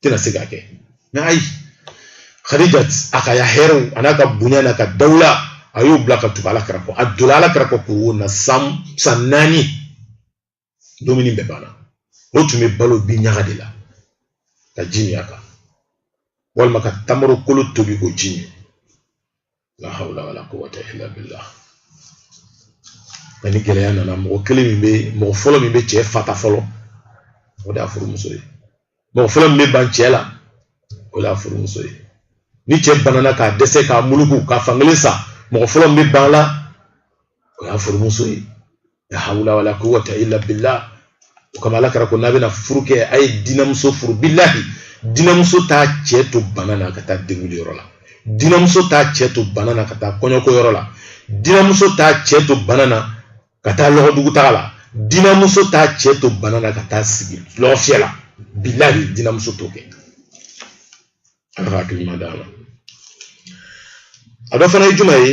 tɛna se ka kɛ mɛ ayi khadija a ka ya hɛrɛw an'a ka bonya n'a ka dawula a y'o bila ka tugu ala kira kɔ a donna ala kira kɔ kuruwo la san naani dumuni bɛɛ banna o tun bɛ balo bin ɲaga de la ka ji min a kan walima ka tamaro kolo tobi k'o ji min la hawla wala quwwata illa billah a ni gɛlɛya nana mɔgɔ kelen min bɛ mɔgɔ fɔlɔ min bɛ cɛ fata fɔlɔ o de y'a furumuso ye mɔgɔ fɔlɔ min bɛ ban cɛ la o de y'a furumuso ye ni cɛ banana k'a dɛsɛ k'a muluku k'a fankelen sa mɔgɔ fɔlɔ min bɛ ban a la o y'a furumuso ye la hawla wala quwwata illa billah o kama ala kira ko n'a bɛna furu kɛ a ye dinamuso furu bilahi dinamuso t'a cɛ to bana na ka taa denguli yɔrɔ la dinamuso t'a cɛ to bana na ka taa kɔɲɔko yɔrɔ la dinamuso t'a cɛ to bana na ka taa lɔgɔdugu taga la dinamuso t'a cɛ to bana na ka taa sigi lɔgɔfiyɛ la bilahi dinamuso t'o kɛ ala ka hakilima d'a ma a dɔ fana ye jumɛn ye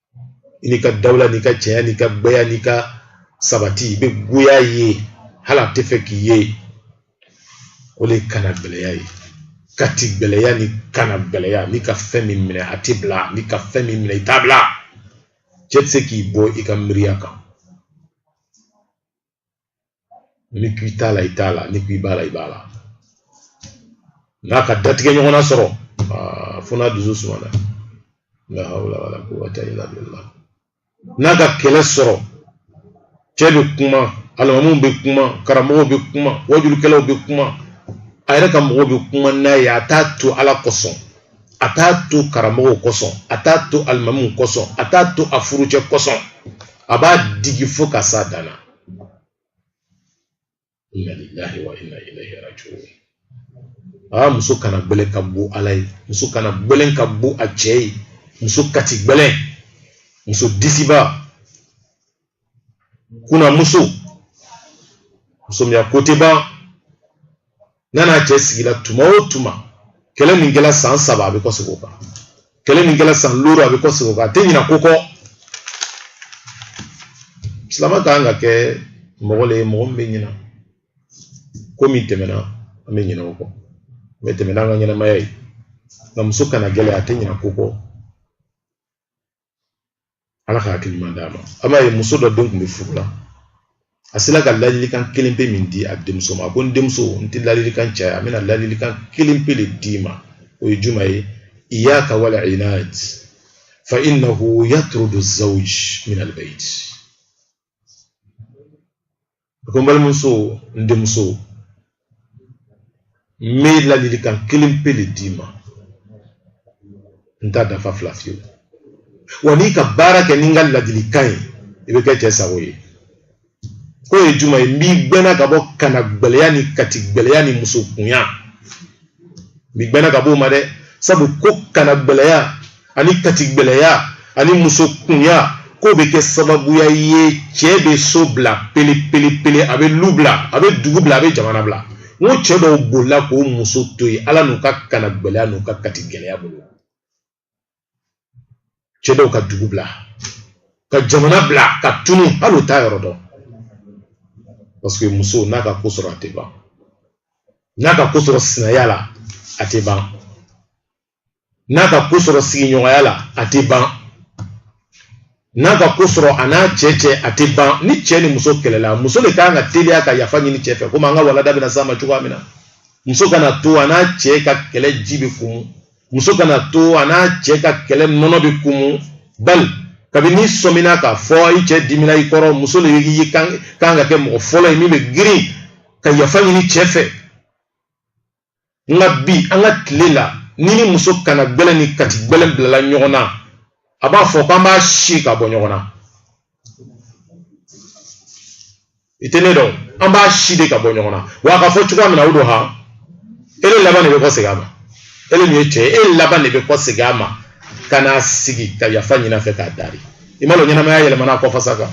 i n'i ka dawula n'i ka cɛɲa n'i ka gbɛya n'i ka sabati i bɛ goya ye hali a tɛ fɛ k'i ye o le kana gbɛlɛya ye kati gbɛlɛya ni kana gbɛlɛya n'i ka fɛn min minɛ a tɛ bila n'i ka fɛn min minɛ i t'a bila cɛ tɛ se k'i bɔ i ka miiriya kan n'i k'i t'a la i t'a la n'i k'i b'a la i b'a la n'a ka datigɛ ɲɔgɔnna sɔrɔ fo n'a dusu sumana la hawla wala quwwata illa billah n'a ka kɛlɛ sɔrɔ cɛ bɛ kuma alimamuw bɛ kuma karamɔgɔw bɛ kuma wajulikɛlaw bɛ kuma a yɛrɛ ka mɔgɔw bɛ kuma n'a ye a t'a to ala kosɔn a t'a to karamɔgɔw kosɔn a t'a to alimamuw kosɔn a t'a to a furucɛ kosɔn a b'a digi fo ka s'a dan na inna lillahi wa inna ilaihi raji'un aa muso kana gbɛlɛn ka gbo ala ye muso kana gbɛlɛn ka gbo a cɛ ye muso kati gbɛlɛn muso disiba kuna muso muso min ya ko tɛ ban n'a n'a cɛ sigila tuma o tuma kɛlɛ min kɛla san saba a bɛ kɔsegin o kan kɛlɛ min kɛla san looru a bɛ kɔsegin o kan a tɛ ɲina ko kɔ silama ka kan ka kɛ mɔgɔ le ye mɔgɔ min bɛ ɲina ko min tɛmɛna an bɛ ɲina o kɔ min tɛmɛna an ka ɲɛnamaya ye nka muso kana gbɛlɛn a tɛ ɲina ko kɔ ala ka hakilima d'a ma a b'a ye muso dɔ den tun bɛ furu la a sera ka ladilikan kelen pe min di a denmuso ma a ko n denmuso n tɛ ladilikan caya n bɛna ladilikan kelen pe le d'i ma o ye jumɛn ye iyaka wal inad fa innahu yatrudu zawj min albayt a ko n balimamuso n denmuso n bɛ ladilikan kelen pe le d'i ma n t'a dafa fila fiyewu wa n'i ka baara kɛ ni n ka ladilikan ye i bɛ kɛ cɛ sago ye k'o ye jumɛn ye n b'i gbɛnna ka bɔ kana gbɛlɛya ni kati gbɛlɛya ni muso kunya b'i gbɛnna ka b'o ma dɛ sabu ko kana gbɛlɛya ani kati gbɛlɛya ani muso kunya k'o bɛ kɛ sababuya ye cɛ bɛ so bila pele pele pele a bɛ lu bila a bɛ dugu bila a bɛ jamana bila n ko cɛ dɔw bolila k'o muso to yen ala n'u ka kana gbɛlɛya n'u ka kati gbɛlɛya bolo cɛ dɔw ka dugu bila ka jamana bila ka tunu hali u t'a yɔrɔ dɔn paseke muso n'a ka ko sɔrɔ a tɛ ban n'a ka ko sɔrɔ sinaya la a tɛ ban n'a ka ko sɔrɔ sigiɲɔgɔnya la a tɛ ban n'a ka ko sɔrɔ a n'a cɛ cɛ a tɛ ban ni cɛ ni muso kɛlɛla muso le kan ka teliya ka yafa ɲini cɛ fɛ komi an ka walanda bɛna s'a ma cogoya min na muso kana to a n'a cɛ ka kɛlɛ ji bɛ kumu muso kana to a n'a cɛ ka kɛlɛ nɔnɔ bɛ kumu bali kabini n'i sɔmina k'a fɔ i cɛ dimina i kɔrɔ muso le y'i kan ka kɛ mɔgɔ fɔlɔ ye min bɛ girin ka yafa ɲini cɛ fɛ nka bi an ka tile la n'i ni muso kana gbɛlɛ ni kati gbɛlɛ bilala ɲɔgɔn na a b'a fɔ k'an b'a si ka bɔ ɲɔgɔn na i tɛ ne dɔn an b'a si de ka bɔ ɲɔgɔn na wa a ka fɔ cogoya min na o don han e le laban de bɛ kɔ segin a ma e le min ye cɛ ye e le laban de bɛ kɔ segin a ma ka na sigi ka yafa ɲini a fɛ k'a daari i m'a lɔn ɲɛnamaya yɛlɛmana a kɔfasa kan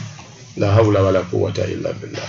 la hawla wala quwwata illa billah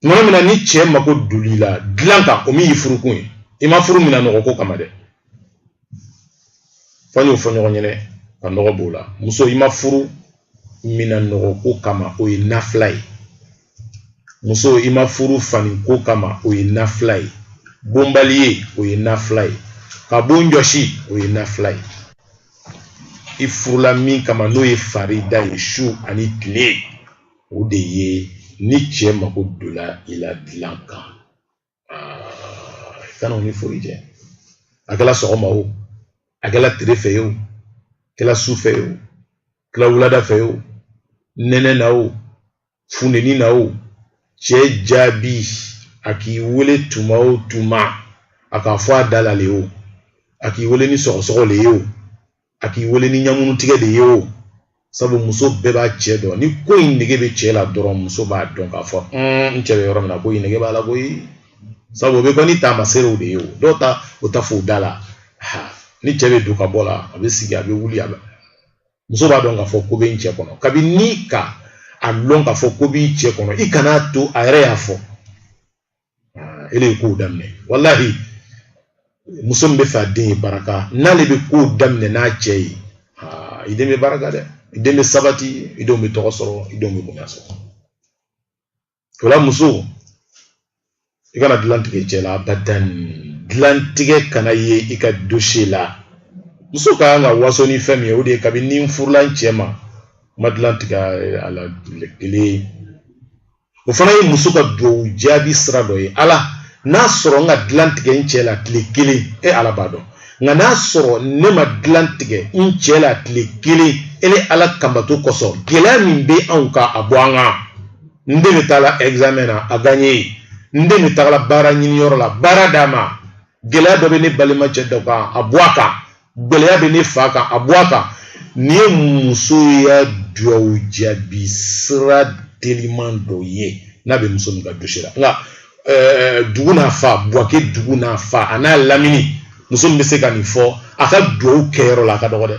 tuma min na ni cɛ mako dol'i la dilan kan o min y'i furukun ye i ma furu minan nɔgɔ ko kama dɛ fɔ y'o fɔ ɲɔgɔn ɲɛnɛ ka nɔgɔ b'o la muso i ma furu minan nɔgɔ ko kama o ye nafila ye muso i ma furu fani ko kama o ye nafila ye bon baleye o ye nafila ye ka bon jɔsi o ye nafila ye i furula min kama n'o ye farida ye su ani tile o de ye ni cɛ mako dola i la dilan kan kana o ni foyi jɛ a kɛla sɔgɔma o a kɛla tere fɛ ye o kɛla su fɛ ye o kɛla wulada fɛ ye o nɛnɛ na o funteni na o cɛ jaabi a k'i wele tuma o tuma a k'a fɔ a da la le ye o a k'i wele ni sɔgɔsɔgɔ le ye o a k'i wele ni ɲamunu tigɛ de ye o sabu muso bɛɛ b'a cɛ dɔn ni ko in nege bɛ cɛ la dɔrɔn muso b'a dɔn k'a fɔ n cɛ bɛ yɔrɔ min na ko in nege b'a la koyi sabu o bɛ kɛ ni taamaseerew de ye o dɔw ta u t'a f'u da la ni cɛ bɛ don ka bɔ la a bɛ sigi a bɛ wuli a bɛ muso b'a dɔn k'a fɔ ko bɛ n cɛ kɔnɔ kabini n'i k'a lɔn k'a fɔ ko b'i cɛ kɔnɔ i kana to a yɛrɛ y'a fɔ e le k'o daminɛ walahi muso min bɛ fɛ a den ye baraka n'ale bɛ ko daminɛ n'a cɛ ye i den bɛ baraka dɛ i den bɛ sabati i denw bɛ tɔgɔ sɔrɔ i denw bɛ bonya sɔrɔ o la muso i kana dilan tigɛ cɛ la abadan dilantigɛ kana ye i ka dosiye la muso ka kan ka waso ni fɛn min ye o de ye kabini ni n furula n cɛ ma n ma dilan tigɛ a la kelen o fana ye muso ka duwawu jaabi sira dɔ ye ala n'a sɔrɔ n ka dilan tigɛ n cɛ la tile kelen e ala b'a dɔn nka n'a sɔrɔ ne ma dilan tigɛ n cɛ la tile kelen e le ala kan bato kosɔn gɛlɛya min bɛ anw kan a bɔ an kan n den min taala examen na a gagne ye n den min taala baara ɲiniyɔrɔ la baara d'a ma gɛlɛya dɔ bɛ ne balimacɛ dɔ kan a bɔ a kan gɛlɛya bɛ ne fa kan a bɔ a kan nin ye muso ya dugawu jaabi sira teliman dɔ ye n'a bɛ muso min ka dossier la nka eh, dugu n'a fa buwake dugu n'a fa a n'a lamini muso min bɛ se ka nin fɔ a ka dugawu kɛyɔrɔ la a ka dɔgɔ dɛ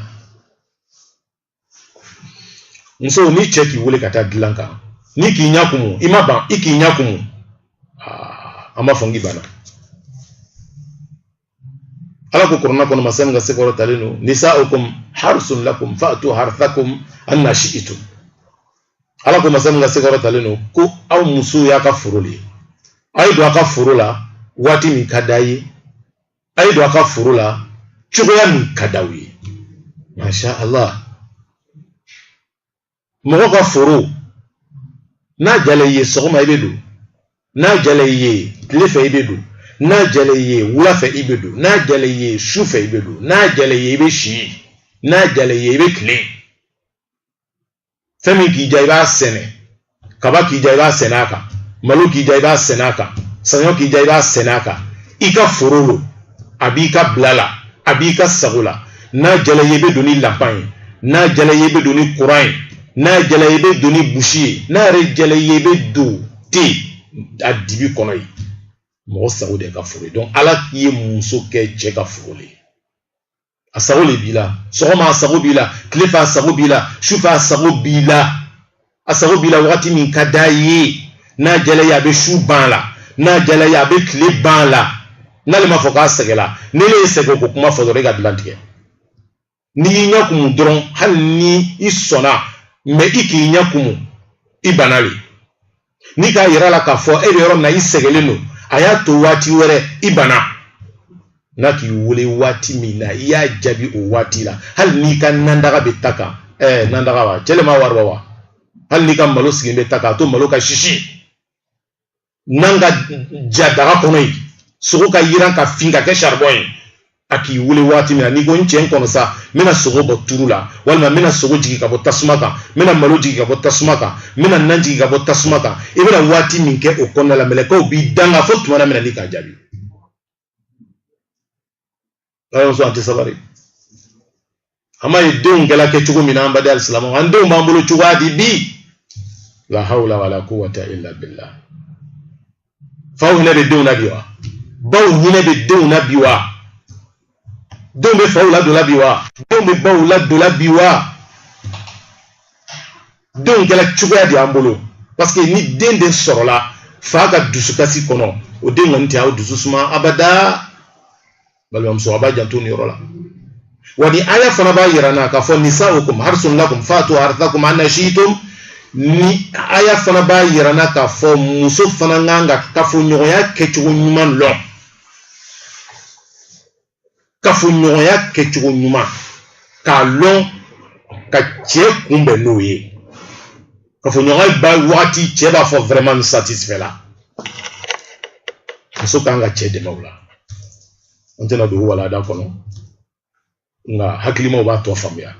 muso ni cɛ k'i wele ka taa dilan kan n'i k'i ɲɛ kumu i ma ban i k'i ɲɛ kumu ah, an b'a fɔ n k'i banna ala ko kurana kɔnɔ masa min ka se kɔrɔtalen don nisa'ukum harsun lakum fa'tu harthakum anna shi'tum ala ko masa min ka se kɔrɔtalen don ko aw musow y'a ka foro de ye aw ye don a ka foro la waati min ka d'a ye a ye don a ka foro la cogoya min ka d'aw ye masha allah mɔgɔ ka foro n'a jala i ye sɔgɔma i bɛ don n'a jala i ye tile fɛ i bɛ don n'a jala i ye wula fɛ i bɛ don n'a jala i ye su fɛ i bɛ don n'a jala i ye i bɛ si n'a jala i ye i bɛ tile fɛn min k'i diya i b'a sɛnɛ kaba k'i diya i b'a sɛnɛ a kan malo k'i diya i b'a sɛnɛ a kan saɲɔ k'i diya i b'a sɛnɛ a kan i ka foro lo a b'i ka bila la a b'i ka sago la n'a jala ye i bɛ don ni lanpan ye n'a jala ye i bɛ don ni kuran ye n'a jala ye i bɛ don ni buzi ye n'a yɛrɛ jala ye i bɛ don ten a dibi kɔnɔ yen mɔgɔ sago d'i ka foro ye donc ala k'i ye muso kɛ cɛ ka foro ye a sago le b'i la sɔgɔma a sago b'i la tile fɛ a sago b'i la su fɛ a sago b'i la a sago b'i la wagati min ka d'a ye n'a jala a ye a bɛ su ban la n'a jala a ye a bɛ tile ban la n'ale ma fɔ k'a sɛgɛla n'e le ye sɛgɛ ko kuma fɔ dɔrɔn i ka dilan tigɛ n'i y'i ɲɛ kumu dɔrɔn hali ni i sɔnna mɛ i k'i ɲɛ kumu i banna le n'i k'a yira a la k'a fɔ e bɛ yɔrɔ min na i sɛgɛlen don a y'a to waati wɛrɛ i banna n'a k'i wele waati min na i y'a jaabi o waati la hali n'i ka nandaga bɛ ta kan ɛɛ nandaga wa cɛ le ma wari bɔ wa hali n'i ka malo sigilen bɛ ta kan a to malo ka sisi nan ka ja daga kɔnɔ yen sogo ka yiran ka fin ka kɛ saribɔn ye a k'i wele waati min na n'i ko n cɛ n kɔnɔ sa n bɛna sogo bɔ turu la walima n bɛna sogo jigin ka bɔ tasuma kan n bɛna malo jigin ka bɔ tasuma kan n bɛna nan jigin ka bɔ tasuma kan i bɛna waati min kɛ o kɔnɔna la mɛlɛkɛw b'i danga fo tuma na min na n'i k'a jaabi balimamuso a tɛ sabali an ma ye denw kɛla kɛ cogo min na an baden alisilamɛw an denw b'an bolo cogoya di bi la hawla wala quwwata illa billah faw hinɛ bɛ denw na bi wa baw hinɛ bɛ denw na bi wa denw bɛ faw ladon la bi wa denw bɛ baw ladon la bi wa denw kɛla cogoya di an bolo parce que ni den de sɔrɔla fa ka dusukasi kɔnɔ o den kɔni tɛ aw dusu suma abada balimamuso a b'a janto nin yɔrɔ la wa nin aya fana b'a yira an na k'a fɔ nisaukum harsun lakum fatu harthakum anna shi'tum nin aya fana b'a yira an na k'a fɔ muso fana kan ka kafoɲɔgɔnya kɛcogo ɲuman lɔn kafoɲɔgɔnya kɛcogo ɲuman k'a lɔn ka cɛ kunbɛn n'o ye kafoɲɔgɔnya ban wagati cɛ b'a fɔ vraiment n satisfait la muso kan ka cɛ dɛmɛ o la an tɛna don walanda kɔnɔ nka hakilimaw b'a tɔ faamuya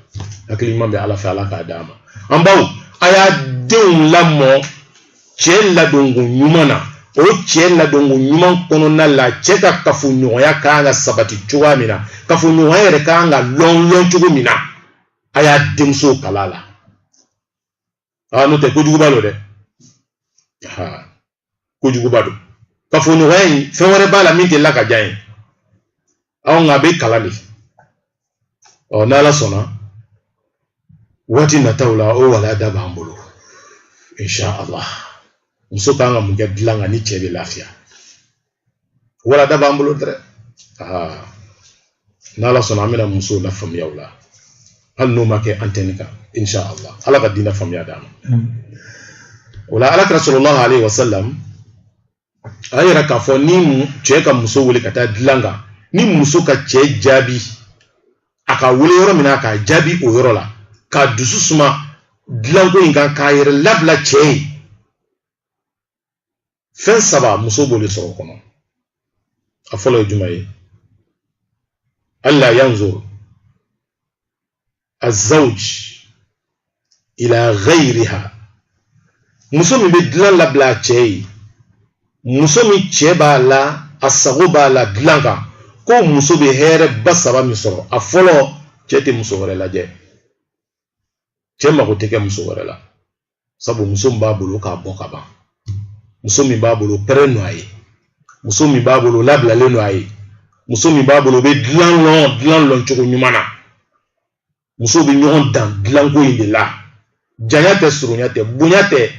hakilima bɛ ala fɛ ala k'a d'an ma an baw a y'a denw lamɔ cɛ ladonko ɲuman na o cɛ ladonko ɲuman kɔnɔna la cɛ ka kafoɲɔgɔnya ka kan ka sabati cogoya min na kafoɲɔgɔnya yɛrɛ ka kan ka lɔn lɔn cogo min na a y'a denmusow kalan a la a n'o tɛ kojuguba lo dɛ aa kojuguba don kafoɲɔgɔnya in fɛn wɛrɛ b'a la min tɛ la ka diya ye anw nka a bɛ kalan le ɔ n'ala sɔnna waati nataw la o walanda b'an bolo insha allah muso kan ka mun kɛ dilan kan ni cɛ bɛ lafiya walanda b'an bolo dɛ aa n'ala sɔnna an bɛna musow lafaamuya o la hali n'o ma kɛ antɛni kan insha allah ala ka diinɛ faamuya d'an ma o la ala kira sallallahu alayhi wa sallam a yɛrɛ k'a fɔ ni cɛ ka muso wele ka taa dilan kan ni muso ka cɛ jaabi a ka wele yɔrɔ min na k'a jaabi o yɔrɔ la k'a dusu suma dilanko in kan k'a yɛrɛ labila cɛ ye fɛn saba muso b'o le sɔrɔ o kɔnɔ a fɔlɔ ye jumɛn ye alla yanzur azzawj ila ghayriha muso min bɛ dilan labila a cɛ ye muso min cɛ b'a la a sago b'a la dilan kan ko muso bɛ hɛrɛba saba min sɔrɔ a fɔlɔ cɛ tɛ muso wɛrɛ lajɛ cɛ mago tɛ kɛ muso wɛrɛ la sabu muso min b'a bolo k'a bɔ ka ban muso min b'a bolo pɛrɛn don a ye muso min b'a bolo labilalen don a ye muso min b'a bolo o bɛ dilan lɔn dilan lɔn cogo ɲuman na muso bɛ ɲɔgɔn dan dilanko in de la janya tɛ surunya tɛ bonya tɛ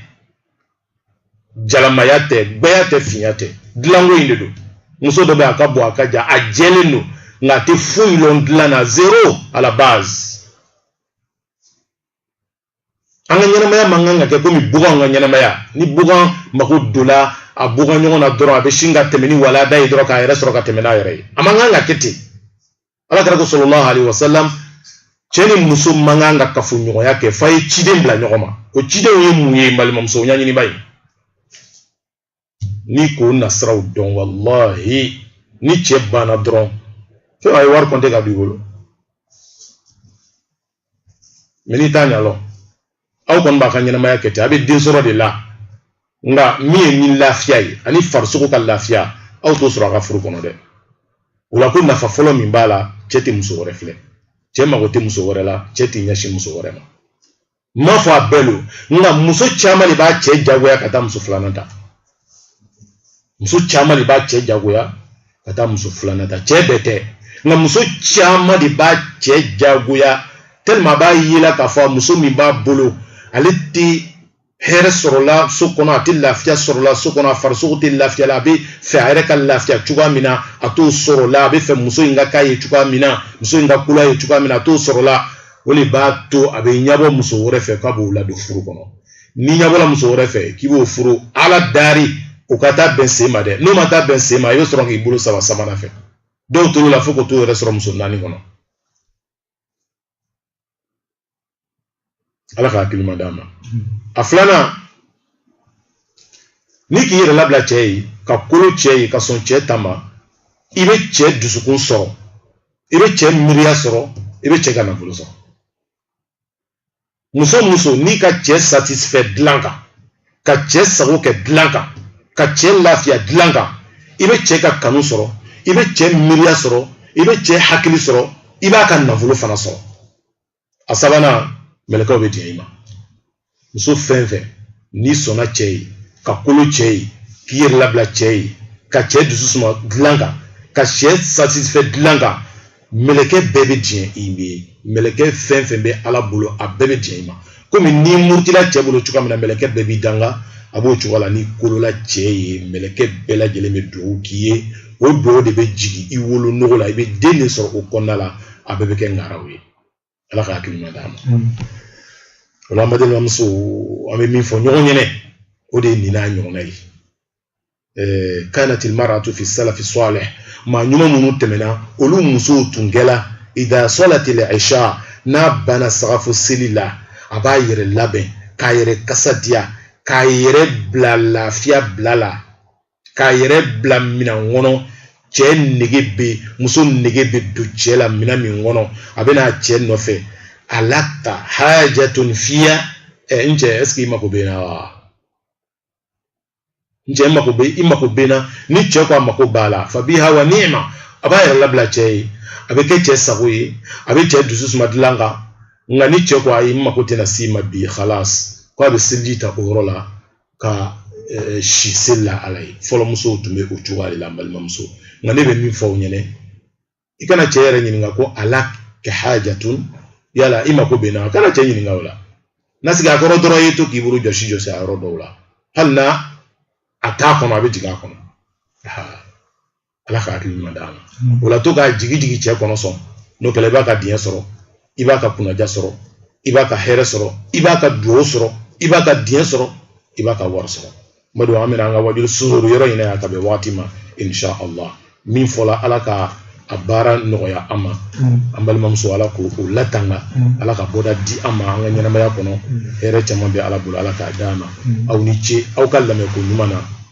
jalamaya tɛ gbɛya tɛ finya tɛ dilanko in de don muso dɔ bɛ a ka bon a ka jan a jɛlen don nka a tɛ foyi lɔn dilan na zéro à la base an ka ɲɛnamaya man kan ka kɛ komi baganw ka ɲɛnamaya ni bagan mako donla a bagan ɲɔgɔn na dɔrɔn a bɛ sin ka tɛmɛ ni walada ye dɔrɔn k'a yɛrɛ sɔrɔ ka tɛmɛ n'a yɛrɛ ye a man kan ka kɛ ten ala kira ko sallallahu alayhi wa sallam cɛ ni muso man kan ka kafoɲɔgɔnya kɛ f'a ye ciden bila ɲɔgɔn ma o cidenw ye mun ye balimamuso ɲɛɲini i b'a ye n'i k'o nasiraw dɔn wallahi ni cɛ banna dɔrɔn fo a ye wari kɔnte k'a don i bolo mais n'i t'a ɲa lɔn aw kɔni b'a ka ɲɛnamaya kɛ ten a bɛ den sɔrɔ de la nka min ye ni lafiya ye ani farisogo ka lafiya aw t'o sɔrɔ a ka furu kɔnɔ dɛ o la ko nafa fɔlɔ min b'a la cɛ tɛ muso wɛrɛ filɛ cɛ mago tɛ muso wɛrɛ la cɛ tɛ ɲɛsin muso wɛrɛ ma n m'a fɔ a bɛɛ lo nka muso caman de b'a cɛ jagoya ka taa muso filanan ta muso caman de b'a cɛ jagoya ka taa muso filanan ta cɛ bɛɛ tɛ nka muso caman de b'a cɛ jagoya tellement a b'a ye la k'a fɔ muso min b'a bolo ale tɛ hɛrɛ sɔrɔla so kɔnɔ a tɛ lafiya sɔrɔla so kɔnɔ a farisogo tɛ lafiya la a bɛ fɛ a yɛrɛ ka lafiya cogoya min na a t'o sɔrɔ la a bɛ fɛ muso in ka k'a ye cogoya min na muso in ka kolo a ye cogoya min na a t'o sɔrɔ la o de b'a to a bɛ ɲɛbɔ muso wɛrɛ fɛ k'a b'o ladon furu kɔnɔ n'i ɲɛbɔla muso wɛrɛ fɛ k'i b'o furu ala dari o ka taa bɛn sen ma dɛ n'o ma taa bɛn sen ma i bɛ sɔrɔ k'i bolo saba sabanan fɛ dɔw tor'o la fo k'o t'o yɛrɛ sɔrɔ muso naani kɔnɔ ala ka hakilima d'a ma a filanan n'i k'i yɛrɛ labila cɛ ye ka kolo cɛ ye ka sɔn cɛ ta ma i bɛ cɛ dusukun sɔrɔ i bɛ cɛ miiriya sɔrɔ i bɛ cɛ ka nafolo sɔrɔ muso muso n'i ka cɛ satisfait dilan kan ka cɛ sago kɛ dilan kan ka cɛ lafiya dilan kan i bɛ cɛ ka kanu sɔrɔ i bɛ cɛ miiriya sɔrɔ i bɛ cɛ hakili sɔrɔ i b'a ka nafolo fana sɔrɔ a sabanan mɛlɛkɛw bɛ diɲɛ i ma muso fɛn fɛn n'i sɔnna cɛ ye ka kolo cɛ ye k'i yɛrɛ labila cɛ ye ka cɛ dusu suma dilan kan ka cɛ satisfait dilan kan mɛlɛkɛ bɛɛ bɛ diɲɛ i ye mɛlɛkɛ fɛn fɛn bɛ ala bolo a bɛɛ bɛ diɲɛ i ma komi n'i murutila cɛ bolo cogoya min na mɛlɛkɛ bɛɛ b'i danga a b'o cogoya la n'i kolola cɛ ye mɛlɛkɛ bɛɛ lajɛlen bɛ dugawu k'i ye o dugawu de bɛ jigin i wolonugu la i bɛ den de sɔrɔ o kɔnɔna la a bɛɛ bɛ kɛ ŋaraw ye ala ka hakili ɲuman d'a ma o la an balimamuso an bɛ min fɔ ɲɔgɔn ɲɛnɛ o de ye nin n'a ɲɔgɔnna ye kanati maratu fi salafi salih maa ɲuman minnu tɛmɛna olu musow tun kɛla idha salati al-isha n'a banna sagafo seli la a b'a yɛrɛ labɛn k'a yɛrɛ kasa diya k'a yɛrɛ bila lafiya bila la k'a yɛrɛ bila minan kɔnɔ cɛ nege bɛ muso nege bɛ don cɛ la minan min kɔnɔ a bɛ n'a cɛ nɔfɛ alaka hajatun fiya ɛ n cɛ ɛseke i mako bɛ n na wa n cɛ mako bɛ i mako bɛ n na ni cɛ ko a mako b'a la fa biha wa nima a b'a yɛrɛ labila cɛ ye a bɛ kɛ cɛ sago ye a bɛ cɛ dusu suma dilan kan nka ni cɛ ko ayi n mako tɛna s'i ma bi khalas ko a bɛ seliji ta o yɔrɔ la ka eh, si seli la ala ye fɔlɔ musow tun bɛ o cogoya de la n balimamuso nka ne bɛ min fɔ aw ɲɛna i kana cɛ yɛrɛ ɲininka ko alaka hajatun yala i mako bɛ n na kana cɛ ɲininka o la na sigi a kɔrɔ dɔrɔn i ye to k'i bolo jɔsi jɔsi a yɔrɔ dɔw la hali n'a t'a kɔnɔ a bɛ jigin a kɔnɔ ala ka hakili ɲuman d'a ma mm. o la to k'a jigin jigin cɛ kɔnɔ sɔn n'o kɛla i b'a ka diɲɛ sɔrɔ i b'a ka kunnaja sɔrɔ i b'a ka hɛrɛ sɔrɔ i b'a ka duwawu sɔrɔ i b'a ka diɲɛ sɔrɔ i b'a ka wari sɔrɔ n b'a dɔn an bɛna an ka wajuli sonsoro yɔrɔ in na yan ka bɛn wagati ma insha allah min fɔla ala ka a baara nɔgɔya an ma mm. an balimamuso ala k'o latanga mm. ala ka bɔda di an ma an ka ɲɛnamaya kɔnɔ hɛrɛ caman bɛ ala bolo ala k'a d'a ma aw ni ce aw ka lamɛnko ɲuman na